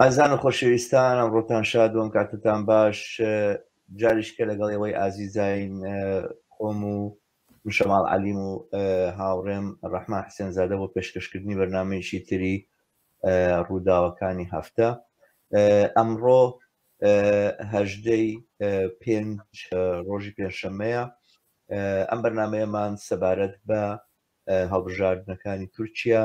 ئازیزان و خۆشەویستان ئەمڕۆتان شاد و ئەم کاتتان باش جاریشکە لەگەڵ ئێوەی ئازیزین خۆم و مشەماڵ عەلیم و هاوڕێم ڕەحمان حسێن زادە بۆ پێشکەشکردنی بەرنمەیەکی تری ڕووداوەکانی هەفتە ئەمڕۆ هەژدەی پێنج ڕۆژی پێنجشەمەیە ئەم بەرنمەیەمان سەبارەت بە هەڵبژاردنەکانی تورکیا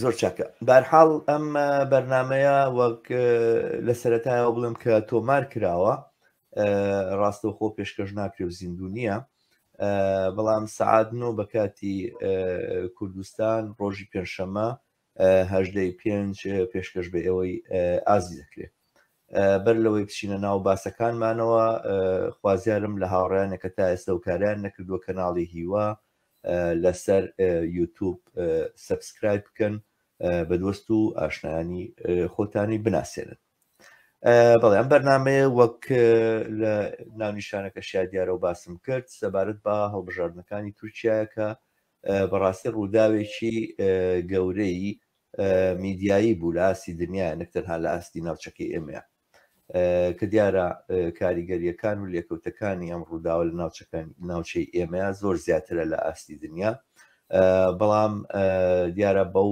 زۆر چاکە بارحاڵ ئەم بەرنمەیە وەک لە سەتایەوە بڵم کە تۆمار کراوە ڕاستەوخۆ پێشکەش ناکرێ و زیندوو نییە بەڵام سعات نۆ بە کاتی کوردستان ڕۆژی پێنجشەمە هەژدەی پێنج پێشکەش بە ئێوەی ئازی دەکرێت بەر لەوەی بچینە ناو باسەکانمانەوە خوازیارم لە هاوڕیانە کە تا ئێستا و کاریان نەکردووە کەناڵی هیوا لەسەر یوتوب سبسکرایب بکەن بەدوەست و ئاشنایانی خۆتانی بناسێنن بەڵێ ئەم بەرنمەیە وەک لە ناونیشانەکە شادیارە و باسم کرد سەبارەت بە هەڵبژاردنەکانی تورکایەکە بەڕاستی ڕووداوێکی گەورەی میدیایی بوو لە ئاستی دنیا نەک تەنها لە ئاستی ناوچەکەی ئێمەیە کە دیارە کاریگەریەکان و لێکەوتەکانی ئەم ڕووداوە لە ناوچەکان ناوچەی ئێمەیە زۆر زیاترە لە ئاستی دنیا بەڵام دیارە بەو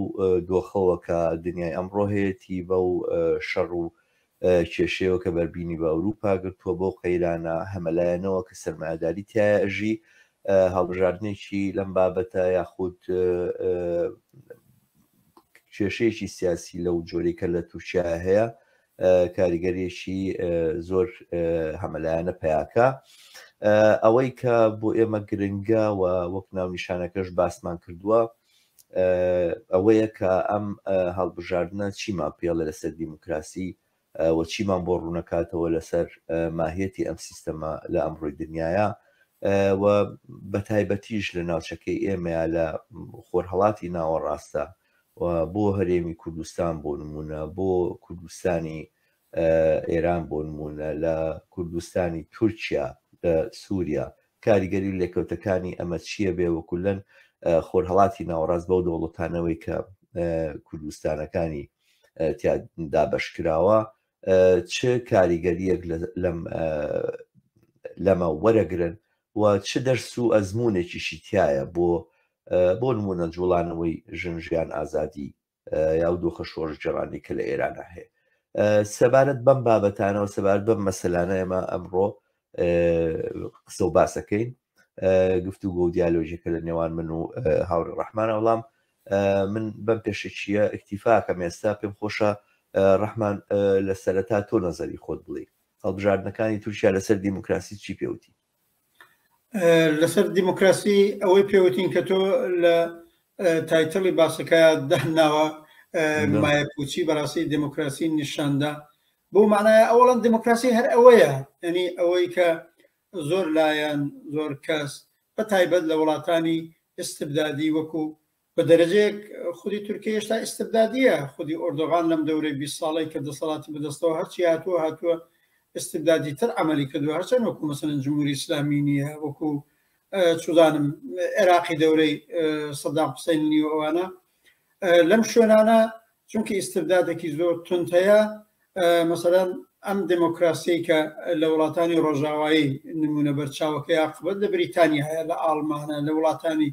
دۆخەوە کە دنیای ئەمڕۆ هەیەی بەو شەڕ و کێشەیەوە کە بەربینی بە ئەوروپا گرتووە بەو قەیرانە هەمەلایەنەوە کە سەرمایەداری تیایە ئەژی، هەڵبژاردنێکی لەم بابەتە یاخود کێشەیەکی سیاسی لەو جۆرەی کە لە تورکیا هەیە کاریگەریەکی زۆر هەمەلایەنە پیاکە ئەوەی کە بۆ ئێمە گرنگە و وەک ناونیشانەکەش باسمان کردووە ئەوەیە کە ئەم هەڵبژاردنە چیمان پێڵێ لەسەر دیموکراسی و چیمان بۆ ڕوونەکاتەوە لەسەر ماهیەتی ئەم سیستەمە لە ئەمڕۆی دنیاە و بە تایبەتیش لە ناوچەکەی ئێمەیە لە خۆرهڵاتی ناوەڕاستە بۆ هەرێمی کوردستان بۆ نمونە بۆ کوردستانی ئێران بۆ نموونە لە کوردستانی تورکیا لە سووریا کاریگەری و لێکەوتەکانی ئەمە چییە بێ وە کولەن خۆرهەڵاتی ناوەڕاست بەو دەوڵەتانەوەی کە کوردستانەکانی دابشکراوە چ کاریگەریەک لەم لەمە وەرەگرن و چ دەرس و ئەزمونێکیشی تایە بۆ بۆ نمونە جوڵانەوەی ژن ژیان ئازادی یاو دۆخە شۆڕش جێڕانی کە لە ئێرانە هەیە سەبارەت بەم بابەتانەوە سەبارەت بەم مەسەلانە ئێمە ئەمڕۆ قسە و باسەکەین گفتو گۆ دیالۆژیکە لە نێوان من و هاوری ڕحمان وەڵام من بەم پێشەکیە ئەکتیفاکە مێستا پێم خۆشە ڕحمان لە سەرەتا تۆ نەزەری خۆت بڵێ هەڵبژاردنەکانی تورکیا لەسەر دیموکراسی چی پێوتی لەسەر دیموکراسی ئەوەی پێوتین کە تۆ لە تایتڵی باسەکە دەهناوە مایە پوچی بەڕاستی دیموکراسی نیشاندا بۆ مانایە ئەوڵەن دیموکراسی هەر ئەوەیە ئەنی ئەوەی کە زۆر لایەن زۆر کەس بە تایبەت لە وڵاتانی ئستبدادی وەکو بە دەرەجەیەک خودی تورکیە هێشتا ئیستبدادییە، خودی ئۆردۆغان لەم دەورەی بیست ساڵەی کە دەسەڵاتی بەدەستەوە هەرچی هاتووە هاتووە ئیستبدادیتر عەمەلی کردووە، هەرچەند وەکوو مەسەلەن جمهوری ئیسلامی نییە، وەکوو چوزانم عێراقی دەورەی سەدام حوسەین نیو ئەوانە لەم شوێنانە چونکە ئیستبدادێکی زۆر تند هەیە مەسەرەن ئەم دموکراسی کە لە وڵاتانی ڕۆژاوایی نمونە بەرچاوەکەی عقبەت لە بریتانیاە لە ئاڵمانە لە وڵاتانی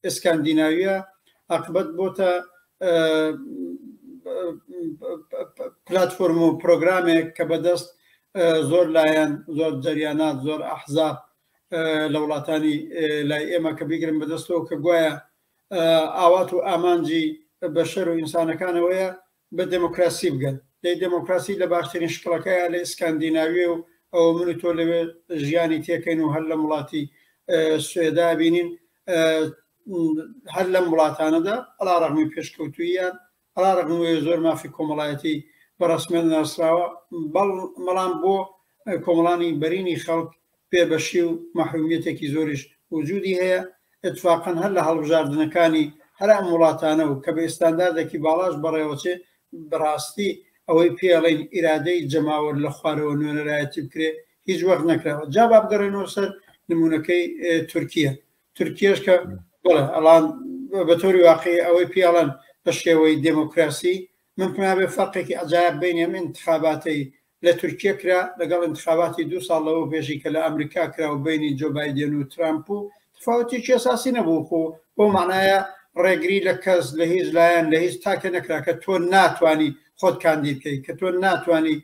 ئسکاندیناویە عقبەت بۆتە پلتفۆرم و پرۆگرامێک کە بەدەست زۆر لایەن زۆر جریانات زۆر ئەحزاب لە وڵاتانی لای ئێمە کە بیگرن بەدەستەوە کە گوایە ئاوات و ئامانجی بەشەر و ئینسانەکانەوەیە بە دموکراسی بگەن دەی دموکراسی لە باشترین شکڵەکەیە لە ئسکاندیناوی و ئەوە من تۆ لەوێ ژیانی تێکەین و هەر لە وڵاتی سوێدا بینین هەر لەم وڵاتانەدا ئەلا ڕەغمی پێشکەوتویان علیرغم وەیە زۆر مافی کۆمەڵایەتی بە ڕەسمیەت ناسراوە بەڵ مەڵام بۆ کۆمەڵانی بەرینی خەڵک بێ بەشی و مەحرومیەتێکی زۆریش وجودی هەیە اتفاقا هەر لە هەڵبژاردنەکانی هەر ئەم وڵاتانە و کە بە ئستانداردێکی باڵاش بەڕێوەچێ بەڕاستی ئەوەی پێڵین ئیرادەی جەماوەر لە خوارەوە نوێنەرایەتی بکرێ هیچ وەخت نەکراوە جا با بگەڕێنەوە سەر نمونونەکەی تورکیە تورکیش کە بڵێ ئەڵان بە تۆری واقعی ئەوەی پیاڵەن بە شێوەی دموکراسی من پنابێ فەرقێکی ئەجایب بین ئەم انتخاباتی لە تورکیە کرا لەگەڵ انتخاباتی دو ساڵ لەوە بێژی کە لە ئەمریکا کرا و بینی جۆ بایدێن و ترامپ و تفاوتێکی ئەساسی نەبوو خۆ بۆ معناە ڕێگری لە کەس لە هیچ لایەن لە هیچ تاکە نەکرا کە تۆ ناتانی خۆت کاندی بکەیت کە تۆ ناتانی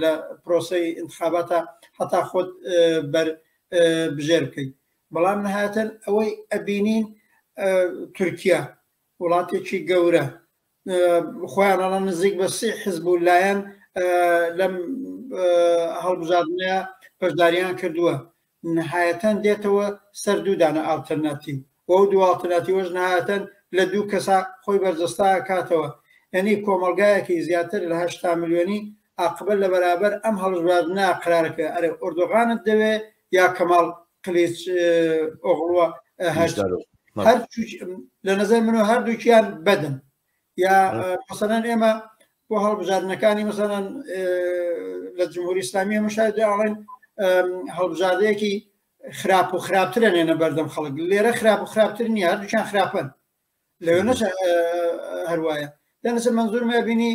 لە پرۆسی انتخاباتە هەتا خۆت بەر بژێر بکەیت بەڵام نەهاتن ئەوەی ئەبینین تورکیا وڵاتێکی گەورە خۆیانەڵە نزیک بە سێ حزب و لایەن لەم هەڵبژاردنە بەشداریان کردووە نهایەتەن دێتەوە سەر دوودانە ئاڵتەرناتیو بۆ دوواڵتەناتی وەژ نهاتەن لە دوو کەسا خۆی بەرجەستا کاتەوە یعنی کۆمەلگایەکی زیاتر لە هشتا ملیۆنی ئاقبەت لە بەرابەر ئەم هەڵبژواردنە قەرارە کە ئەرێ ئۆردۆغانت دەوێ یا کەماڵ قلیچ ئۆغڵوە هەر لە نظر منو هەردووکیان بەدن یا مەسەەن ئێمە بۆ هەڵبژاردنەکانی مەسەەن لە جمهوری ئسلامی مشاهد ئاڵێن هەڵبژاردەیەکی خراپ و خراپترە نێنە بەردەم خەڵک لێرە خراپ و خراپتر نیە هەردووچان خراپن لەوێ نەچ هەروایە لە لەسەر منزورمە بینی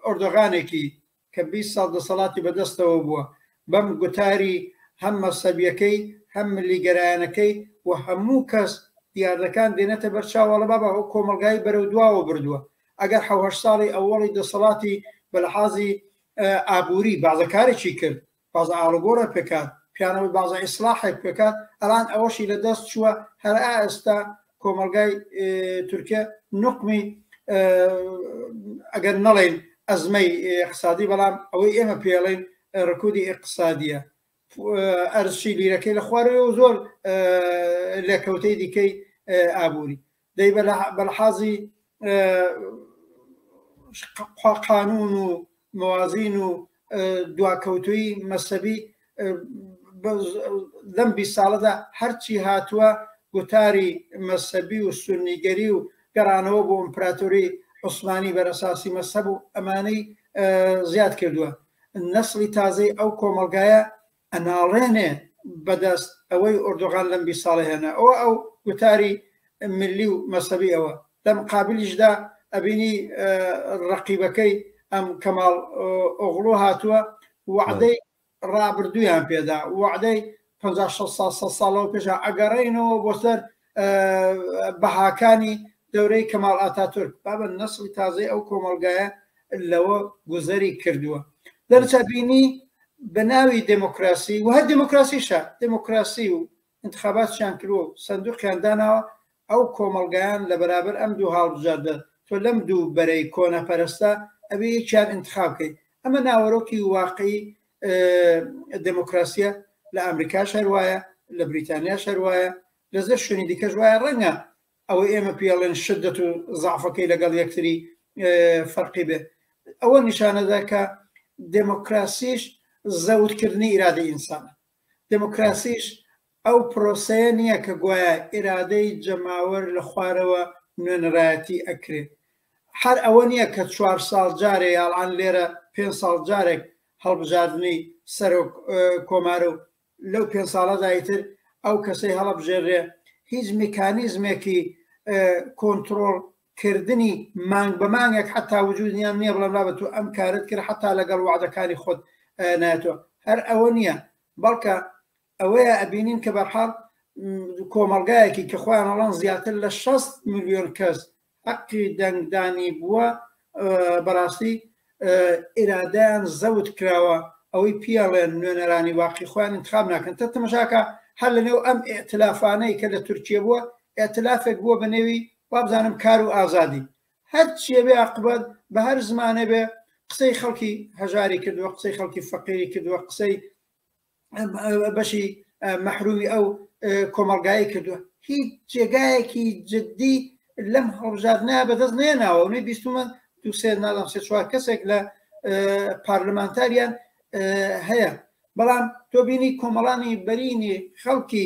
ئۆردۆغانێکی کە 20 ساڵ دەسەڵاتی بەدەستەوە بووە بەم گوتاری هەم مەسەبیەکەی هەم ملیگەرایەنەکەی و هەموو کەس دیاردەکان دێنێتە بەر چاوەڵە بابا ئەو کۆمەلگای بەرەو دواوە بردووە ئەگەر حوهشت ساڵی ئەوەڵی دەسەڵاتی بەلحازی ئابووری بازەکارێکی کرد بازە ئاڵوگۆڕێ پکات پیانەوەی بازە ئیسڵاحێ پکات ئەڵان ئەوەشی لە دەست چووە هەر ئا ئێستا کۆمەڵگای تورکیە نوقمی ئەگەر نەڵێن ئەزمەی اقتصادی بەڵام ئەوەی ئێمە پێڵێن ڕکودی اقتصادیە ئەرزشی لیرەکەی لە خوارەوە زۆر لەکەوتەی دیکەی ئابووری دەی بەلحازی قانون و موازین و دواکەوتوی مەسەبی لەم بی ساڵەدا هەرچی هاتووە گوتاری مەسەبی و سونیگەری و گەڕانەوە بۆ ئەمپراتوری عوسمانی بەرەساسی مەسەب و ئەمانەی زیاد کردووە نەسڵی تازەی ئەو کۆمەلگایە ئەناڵێنێ بەدەست ئەوەی ئۆردۆغان لەم بیست ساڵە هێنا ئەوە ئەو گوتاری ملی و مەسەبی ئەوە لەم قابلیشدا ئەبینی ڕقیبەکەی ئەم کەماڵ ئۆغڵۆ هاتووە وعدەی ڕابردوویان پێدا وعدەی 5 ساڵەوە پێشە ئەگەڕێنەوە بۆ سەر بەهاکانی دەورەی کەماڵ ئاتاتورک بابە نەسڵی تازەی ئەو کۆمەلگایە لەوە گوزەری کردووە دەرچە بینی بە ناوی دموکراسی وه دموکراسیشە دموکراسی و انتخاباتیان کرۆ سندوقیان داناوە ئەو کۆمەلگایان لە بەرابەر ئەم دوو هاڵبژاردە تۆ لەم دوو بەرەی کۆنە پەرستە ئەبێ یەکیان انتخابکەیت ئەمە ناوەرۆکی واقعی دموکراسیە لە ئەمریکا شەر وایە لە بریتانیا شەر وایە لە زە شوێنی دیکەش وایە ڕەنگە ئەوە ئێمە پێڵێن شدەت و زعفەکەی لەگەڵ یەکتری فەرقی بێ ئەوە نیشانەدا کە دموکراسیش زەوتکردنی ئیرادە ئینسانە دموکراسیش ئەو پرۆسەیە نیە کە گوایە ئیرادەی جەماوەر لە خوارەوە نوێنەرایەتی ئەکرێ هەر ئەوە نیە کە چوار ساڵ جارێ یاڵان لێرە پێنج ساڵ جارێک هەڵبژاردنی سەرۆک کۆمارە و لەو پێنج ساڵەدا ئیتر ئەو کەسەی هەڵەبژێرێ هیچ میکانیزمێکی کۆنترۆڵ کردنی مانگ بە مانگێک حتا وجودیان نییە بڵێ بابەت و ئەم کارت کرد حتا لەگەڵ وعدەکانی خۆت ناتۆ هەر ئەوە نییە بەڵکە ئەوەیە ئەبینین کە بەرحاڵ کۆمەڵگایەکی کە خۆیان ئەڵان زیاتر لە 6 ملیۆن کەس حەقی دەنگدانی بووە بەڕاستی ئیرادیان زەوت کراوە ئەوەی پیاڵێن نوێنەرانی واقعی خۆیان انتخاب ناکەن تە تەمەشاکە هەر لە نێو ئەم ئەتلافانەی کە لە تورکیە بووە ئەتلافێک بووە بە نێوی وابزانم کار و ئازادی هەر چێبێ عقبەت بە هەر زمانە بێ قسەی خەڵکی هەژاری کردووە قسەی خەڵکی فەقیری کردووە قسەی بەشی مەحرومی ئەو کۆمەڵگای کردووە هیچ جێگایەکی جددی لەم هەڵبژاردنە بەدەست نێناوە نوێ بیستمە دوسێ ناڵم سێ چوار کەسێک لە پارلمانتاریان هەیە بەڵام تۆبینی کۆمەڵانی بەرینی خەڵکی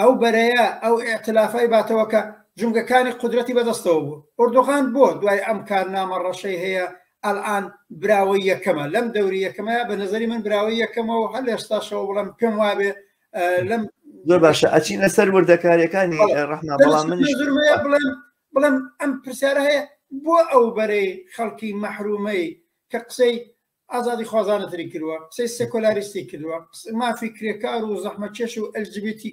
ئەو بەرەیە ئەو ئیعتلافای باتەوە کە جومگەکانی قودرەتی بەدەستەوە بوو ئۆردۆغان بۆ دوای ئەم کارنامە ڕەشەی هەیە ئەلئان براوەی یەکەمە لەم دەوری یەکەمەیە بە نظری من براوەی یەکەمە و هەل ئێستاشەوە بڵم پێم وابێ لەم زۆر باشە ئەچین لەسەر وردەکاریەکانی ڕحنا بەڵام من بڵێم بڵم ئەم پرسیارە هەیە بۆ ئەو بەرەی خەڵکی مەحرومەی کە قسەی ئازادی خوازانە تری کردوە قسەی سێکۆلاریستی کردوە مافی کرێکار و زەحمەکێش و ئەلجبیتی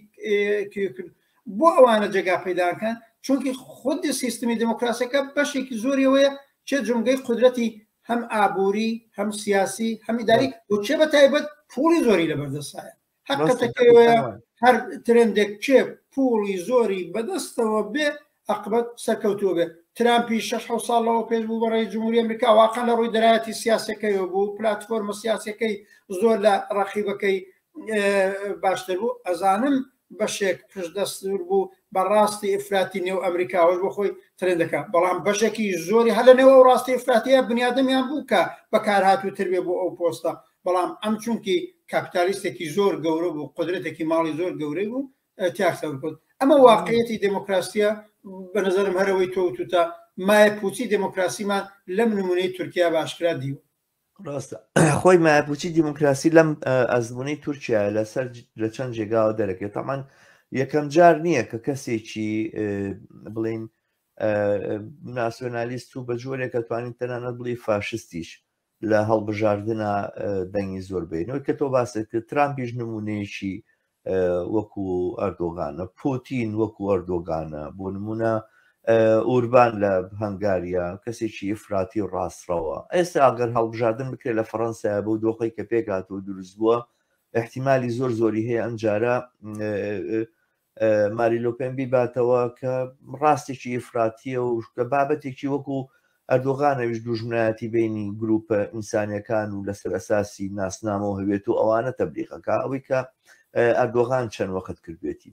کرد بۆ ئەوانە جێگا پیداکەن چونکی خودی سیستمی دموکراسەکە بەشێکی زۆریەوەیە چێ جمگەی قدرەتی هەم ئابووری هەم سیاسی هەمیداری وچێ بە تایبەت پوڵی زۆری لە بەردەسایە حقەتەکەوەیە هەر ترندێک کێ پوڵی زۆری بەدەستەوە بێ ئەقبەت سەرکەوتووە بێت ترامپی 6 ساڵەوە پێش بوو بە ڕێی جمهوری ئەمریکا واقع لە ڕووی دەرایەتی سیاسەکەیەوە بوو پلتفۆرمە سیاسەکەی زۆر لە ڕەقیبەکەی باشتر بوو ئەزانم بەشێک پشت دەستور بوو بە ڕاستی ئفراتی نێو ئەمریکاوەش بۆ خۆی ترند دەکە بەڵام بەشێکی زۆری هەلە نێوە و ڕاستی ئفراتیە بنیادەمیان بوو کە بەکار هاتوو تر بێ بۆ ئەو پۆستە بەڵام ئەم چونکی کاپیتالیستێکی زۆر گەورە بوو قدرەتێکی ماڵی زۆر گەورەی بوو تیاکسەور کرد ئەمە واقعەتی دموکراسیە بە نظرم هەرەوەی تۆوتوتە مایە پوچی دموکراسیمان لەم نمونەی تورکیا باشکرا دیوە ڕاستە خۆی مایپوچی دیموکراسی لەم ئەزمونەی تورکیا لەسەر لە چەند جێگاوە دەرەکێت تامان یەکەم جار نییە کە کەسێکی بڵین ناسیۆنالیست و بە جۆرێکە توانین تەنانەت بڵی فاشستیش لە هەڵبژاردنا دەنگی زۆر بینەوە کە تۆ باست کرد ترامپیش نمونەیەکی وەکو ئەردۆگانە پۆتین وەکو ئەردۆگانە بۆ نمونە ئوربان لە هەنگاریا کەسێکی ئفراتی و ڕاستڕەوە ئێستا ئەگەر هەڵبژاردن بکرێت لە فەڕەنسای بۆ دۆخی کە پێکاتەوە دروست بووە احتیممالی زۆر زۆری هەیە ئەمجارە ماری لۆپێن بیباتەوە کە ڕاستێکی ئیفراتیە و کە بابەتێکی وەکو ئەردۆغانەویش دوژمنایەتی بینی گروپە ئینسانەکان و لەسەر ئەساسی ناسنامەوە هەوێت و ئەوانە تەبلیغەکە ئەوەی کە ئەردۆغان چەند وەخت کردوێتی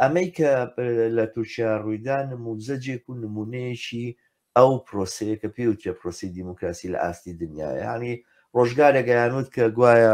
ئەمەی کە لە تورکیا ڕوویدا نموزەجێک و نمونەیەکی ئەو پرۆسەیە کە پێوتێ پرۆسی دیموکراسی لە ئاستی دنیاە ینی ڕۆژگارێک گەیانوت کە گوایە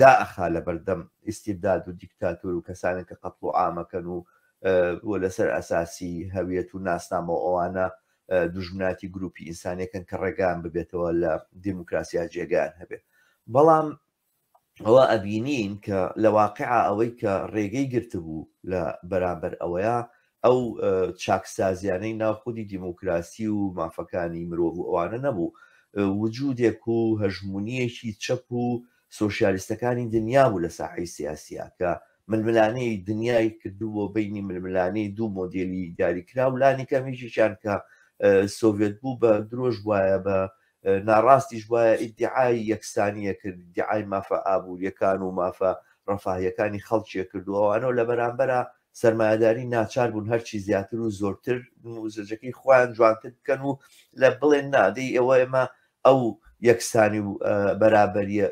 دائەخا لەبەردەم ئیستیبداد و دیکتاتۆر و کەسانێک کە قەتڵ و عامەکەن و و لەسەر ئەساسی هەویەت و ناسنامەوە ئەوانە دوژمناتی گروپی ئینسانەکەن کە ڕێگان ببێتەوە لە دیموکراسیا جێگان هەبێت بەڵام ئەوە ئەبینین کە لە واقع ئەوەی کە ڕێگەی گرتبوو لە بەرامبەر ئەوەیە ئەو چاکسازیانەی ناو خودی دیموکراسی و مافەکانی مرۆڤ و ئەوانە نەبوو، وجودێک و هەژمونیەکی چەپ و سۆشیالیستەکانی دنیا بوو لە ساحەی سیاسیا کە ململانێی دنیای کردبووە بینی ململانێی دوو مۆدێلی دیاریکراو لانی کەم یەکێکیان کە سۆڤێت بوو بە درۆش وایە بە ناڕاستیش وایە ئیدعای یەکسانیە کرد دیعای مافە ئابووریەکان و مافە ڕەفاهیەکانی خەڵکیە کردووەوانەوە لە بەرامبەرە سەرمایەداری ناچار بوون هەرچی زیاتر و زۆرتر نموزەجەکەی خۆیان جوانتر بکەن و لە بڵێن نادەی ئەوە ئێمە ئەو یەکسانی و بەرابەریە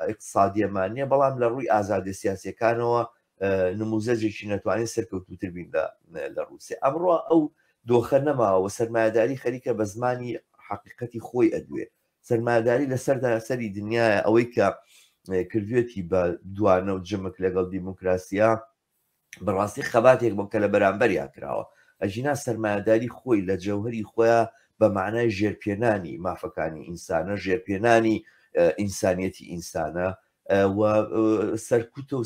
ئیقتصادیەمان نیە بەڵام لە ڕووی ئازادە سیاسەکانەوە نموزەجێکی نەتوانین سەرکەوتوتر بین لە ڕووسێ ئەمڕۆ ئەو دۆخە نەماوە سەرمایەداری خەریکە بە زمانی حقیقەتی خۆی ئەدوێ سەرمایەداری لە سەرتاسەری دنیاە ئەوەی کە کردوێتی بە دوانە و جمک لەگەڵ دیموکراسیە بەڕاستی خەباتێک بۆ کە لە بەرامبەریا کراوە ئەژینا سەرمایەداری خۆی لە جەوهری خۆیان بە معنای ژێرپێنانی مافەکانی ئینسانە ژێرپێنانی ئینسانیەتی ئینسانە و سەرکوتە و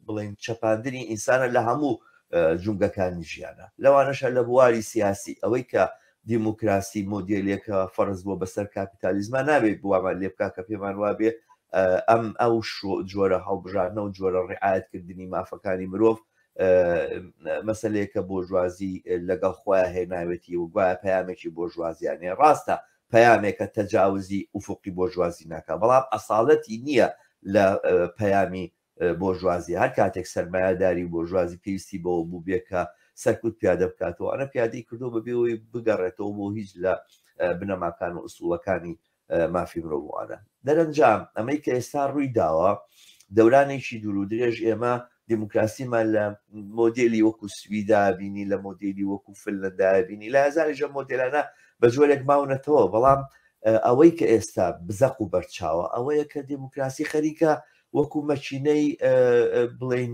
بڵین چەپاندنی ئینسانە لە هەموو جونگەکانی ژیانە لەوانەشە لە بواری سیاسی ئەوەی کە دیموکراسی مۆدیلێکە فەرز بووە بەسەر کاپیتالیزما نابێت بوامان لێ بک کە پێمان وابێ ئەم ئەو جۆرە هەڵبژاردنە و جۆرە ڕعاەتکردنی مافەکانی مرۆڤ مەسلەیەکە بۆژوازی لەگەڵ خۆیان هێناوێتی و گوایە پامێکی بۆژوازیانێ ڕاستە پەیامێکە تەجاوزی ئوفوقی بۆرژوازی ناکا بەڵام ئەسالەتی نیە لە پەیامی بۆرژوازی هەر کاتێک سەرمایەداری و بۆرژوازی پێویستی بەوە بووبێ کە سەرکوت پیادە بکاتەوە ئەنە پیادەی کردو بەبێ ئەوەی بگەڕێتەوە بۆ هیچ لە بنەماکان و ئسوڵەکانی مافی مرۆڤوانە دەرەنجام ئەمەی کە ئێستا ڕووی داوە دەورانێکی دوور و درێژ ئێمە دیموکراسیمان لە مۆدێلی وەکو سویدا بینی لە مۆدێلی وەکو فلندا بینی لە هزاریشە مۆدلانە بە جۆرێک ماونەتەوە بەڵام ئەوەی کە ئێستا بزەق و بەرچاوە ئەوەیە کە دیموکراسی خەریکە وەکو مەچینەی بڵین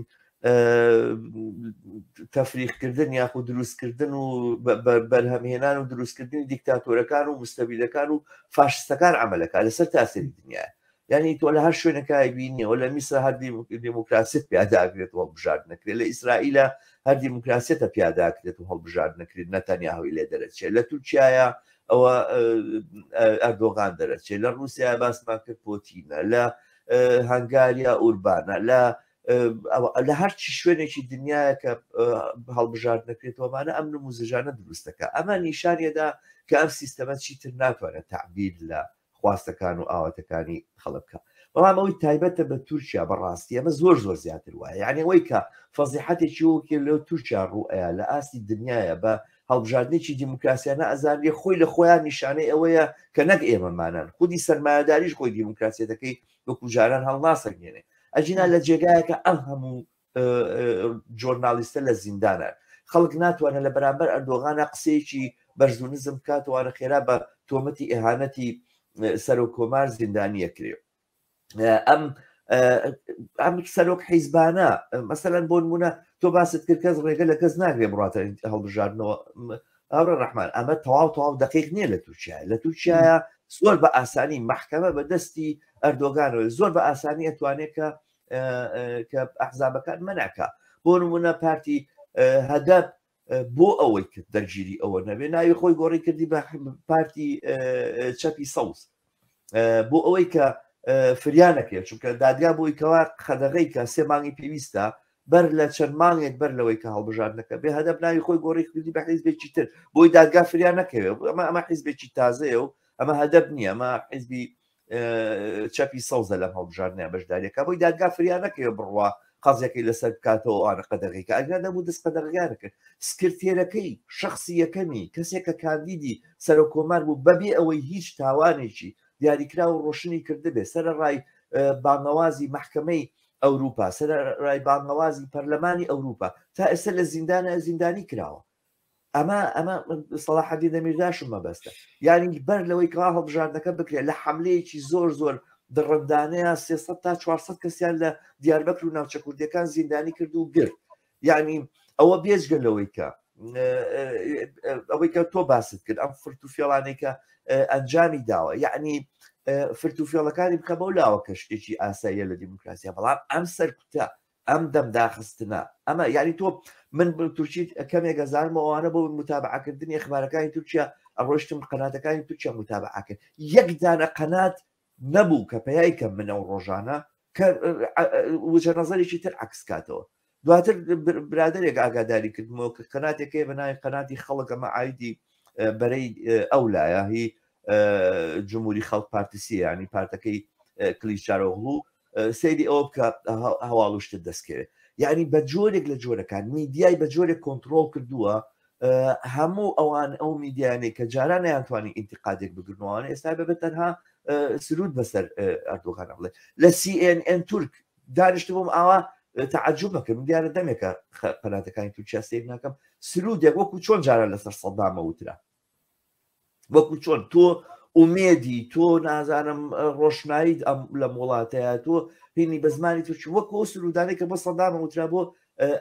تەفریقکردن یاخو دروستکردن و بەرهەمهێنان و دروستکردنی دیکتاتۆرەکان و مستەبیلەکان و فاشستەکان ئەمەلەکە لەسەر تاسەری دنیا یعنی تۆ لە هەر شوێنەکای بینیەوە لە میسر هەر دیموکراسیت پیاداگرێت و هەڵبژار نەکرێت لە ئیسرائیلە هەر دیموکراسیەتە پیاداکرێت و هەڵبژار نەکرێت نەتەنیا هەوی لێ دەرەچێت لە تورکایە ئەوە ئەردۆغان دەرەچێت لە رووسیا باسمان کرد پۆتینە لە هەنگاریا ئوربانە لە لە هەرچی شوێنێکی دنیاە کە هەڵبژارد نەکرێتەوەمانە ئەم نموزژانە دروستەکە ئەمە نیشانەدا کە ئەم سیستەمە چیتر ناتوانێت تعبیر لە خواستەکان و ئاواتەکانی خەڵک بکا بەڵام ئەوەی تایبەتە بە تورکیا بەڕاستی ئەمە زۆر زۆر زیاتر وایە یعنی ئەوەی کە فەزیحەتێکی وەکێ لەو تورکیا ڕوئەیە لە ئاستی دنیاە بە هەڵبژاردنێکی دیموکراسیانە ئەزانێ خۆی لە خۆیان نیشانەی ئەوەیە کە نەک ئێمەمانان خودی سەرمایهداریش خۆی دیموکراسیەتەکەی وەکو جاران هەڵناسەنگێنێ ئەجینا لە جێگایەکە ئەم هەموو جۆرنالیستە لە زیندانە خەڵک ناتوانە لە بەرامبەر ئەردۆغانە قسەیەکی بەرزونزم بکاتەوەە خێرا بە تۆمەتی ئێهانەتی سەرۆک کۆمار زیندانیە کرێ ئەم ئەم سەرۆک حیزبانە مەسەەن بۆ نمونە تۆ باست کرد کەس ڕێگە لە کەس ناگرێ بڕاتە هەڵبژاردنەوە ئەوڕە ڕحمان ئەمە تەواو تەواو دقیق نییە لە تورکیا لە تورکیا زۆر بە ئاسانی محکەمە بە دەستی ئەردۆگانەوە زۆر بە ئاسانی ئەتوانێت کە کە ئەحزابەکان مەناکە بۆ نمونە پارتی هەدەب بۆ ئەوەی کرد دەرگیری ئەوە نەبێ ناوی خۆی گۆڕی کردی بە پارتی چەپی سەوز بۆ ئەوەی کە فریانەکرێت چونکە دادگا بۆی کەوا خەدەغی کە سێ مانگی پێویستە بەر لە چەند مانگێک بەر لەوەی کە هەڵبژاردنەکە بێ هەدەب ناوی خۆی گۆڕی کردی بە حیزبێکی تر بۆی دادگا فریان نەکەوێت ئەمە ئەمە حیزبێکی تازەیە و ئەمە هەدەب نییە ئەمە حیزبی چەپی سەوزە لەم هەڵبژاردنە بەشداریەکە بۆی دادگا فریا نەکەوێ بڕوا قەزیەکەی لەسەر بکاتەوە ئەوانە قەدەغیکە ئەگەر نەبوو دەست قەدەغیان کرد سکرتێرەکەی شخصی یەکەمی کەسێک کە کاندیدی سەرۆک کۆمار بوو بەبێ ئەوەی هیچ تاوانێکی دیاریکرا و ڕۆشنی کردبێ سەرڕای بانەوازی محکمەی ئەوروپا سەرڕای بانەوازی پەرلەمانی ئەوروپا تا ئێستا لە زیندانە زیندانی کراوە ئەمە ئەمە سەڵاحەدی دەمیرداشم مەبەستە یاری بەر لەوەی کەوا هەڵبژاردنەکە بکرێت لە حملەیەکی زۆر زۆر دڕندانەیە 300 تا 400 کەسیان لە دیاربەکر و ناوچە کوردەکان زیندانی کرد و گرت یعنی ئەوە بێجگە لەوەی کە ئەوەی کە تۆ باست کرد ئەم فرت و فێڵانەی کە ئەنجامی داوە یعنی فرت و فێڵەکانی بکە بەو لاوە کە شتێکی ئاساییە لە دیموکراسیە بەڵام ئەم سەرکوتە ئەم دەم داخستنە ئەمە یانی تۆ من بل تورکی کەمێک ئەزانم ئەوانە بۆ متابعکردنی ئەخبارەکانی تورکیا ئەڕۆشتم قەناتەکانی تورکیا متابعکرد یەک دانە قەنات نەبوو کە پەیای کەم منە و ڕۆژانە کە وجە نظرێکی تر عکس کاتەوە دواتر برادێک ئاگاداری کردمەوە کە قەناتێکەکەی بەناوی قەناتی خەڵکەمە ئایدی بەرەی ئەو لایە هی جمهوری خەڵک پارتیسی ینی پارتەکەی کلیچارۆغڵو سەیری ئەوە بکە هەواڵشتت دەستکەوێت یعنی بە جۆرێک لە جۆرەکان میدیای بە جۆرێک کۆنتترۆل کردووە هەموو ئەوان ئەو میدیانەی کە جاران یانتوانی ئینتقادێک بگرنەوەوانە ئێستا بەبێت تەنها سرود بەسەر ئەردوغانە بڵێ لە CNN تورک دانیشت بووم ئاوا تعجب بکەم دیارە دەمێکە پەناتەکانی تورکیا سیر ناکەم سرودێک وەکو چۆن جاران لەسەر سەدامە وترا وەکو چۆن تۆ ئومێدی تۆ نازانم ڕۆشنایی لە وڵاتەیە تۆ هینی بە زمانی توچ وەکو سرودانێک کە بۆ سەدامە وترا بۆ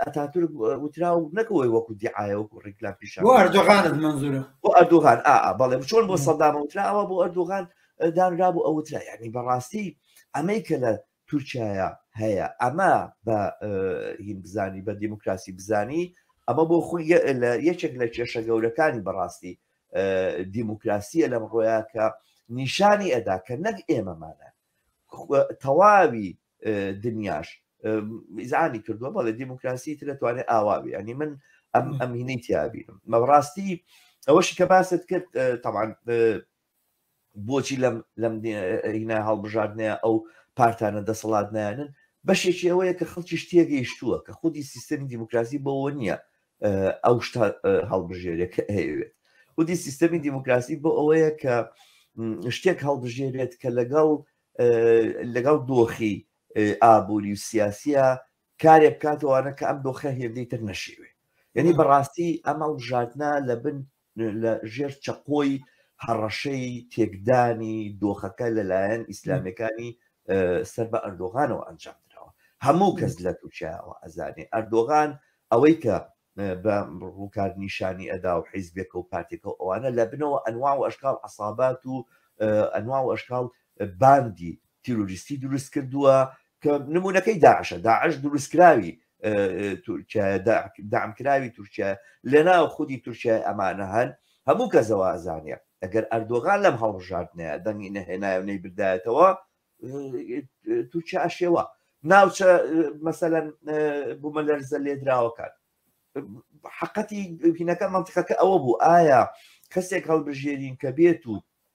ئەتاتور وترا و نەکەوەی وەکو دیعاە وەکو ڕیکلام پیش بۆ ئەردۆغانت منزورە بۆ ئەردۆغان ئا بەڵێ چۆن بۆ سەدامە وتراوە بۆ ئەردۆغان دانرا بۆ ئەوترا یعنی بەڕاستی ئەمەی کە لە تورکیایا هەیە ئەمە بە هیم بزانی بە دیموکراسی بزانی ئەمە بۆ خۆی یەکێک لە کێشە گەورەکانی بەڕاستی دیموکراسیە لەم ڕۆیا کە نیشانی ئەدا کە نەک ئێمەمانە تەواوی دنیاش میزانی کردووە بەڵێ دیموکراسی تر دەتوانێت ئاواوی ئەنی من ئەم ئەمینەی تیابینم مەڕاستی ئەوەشی کە باست کرد تاوان بۆچی لەم لەم هینا هەڵبژاردنەیە ئەو پارتانە دەسەڵات نایەنن بەشێکی ئەوەیە کە خەڵکی شتێگەیشتووە کە خودی سیستەمی دیموکراسی بەوە نییە ئەو شتا هەڵبژێرێک هەیەوێت خودی سیستەمی دیموکراسی بۆ ئەوەیە کە شتێک هەڵبژێرێت کە لەگەڵ لەگەڵ دۆخی ئابووری و سیاسە کارێک بکاتەوانە کە ئەم دۆخە هێندەی تر نەشێوێ یعنی بەڕاستی ئەمە ژاتنا لە بن لە ژێر چەقۆی هەڕەشەی تێکدانی دۆخەکە لەلایەن ئیسلامەکانی سەر بە ئەردۆغانەوە ئەنجام درراوە هەموو کەس لە تورکیاەوە ئەزانێ ئەردۆغان ئەوەی کە بە ڕووکار نیشانی ئەدا و حیزبێکە و پارتێکە و ئەوانە لە بنەوە ئەنوا و ئەشکال عسابات و ئەنوا و ئەشکال باندی تیرۆریستی دروست کردووە کە نمونونەکەی داعشە داعش دروستکراوی دامکراوی تورکیا لەناو خودی تورکیای ئەمانە هەن هەموو کە زەوازانە ئەگەر ئەردۆغان لەم هەڵبژاردنەیە دەنگی نەهێنایە و نەی بردایەتەوە تورکیا ئەشێوە ناوچە مەسەەن بوومە لەرزە لێدراوەکان حقەتی بینەکە منطقەکە ئەوە بوو ئایا کەسێک هەڵبژێرین کە بێت و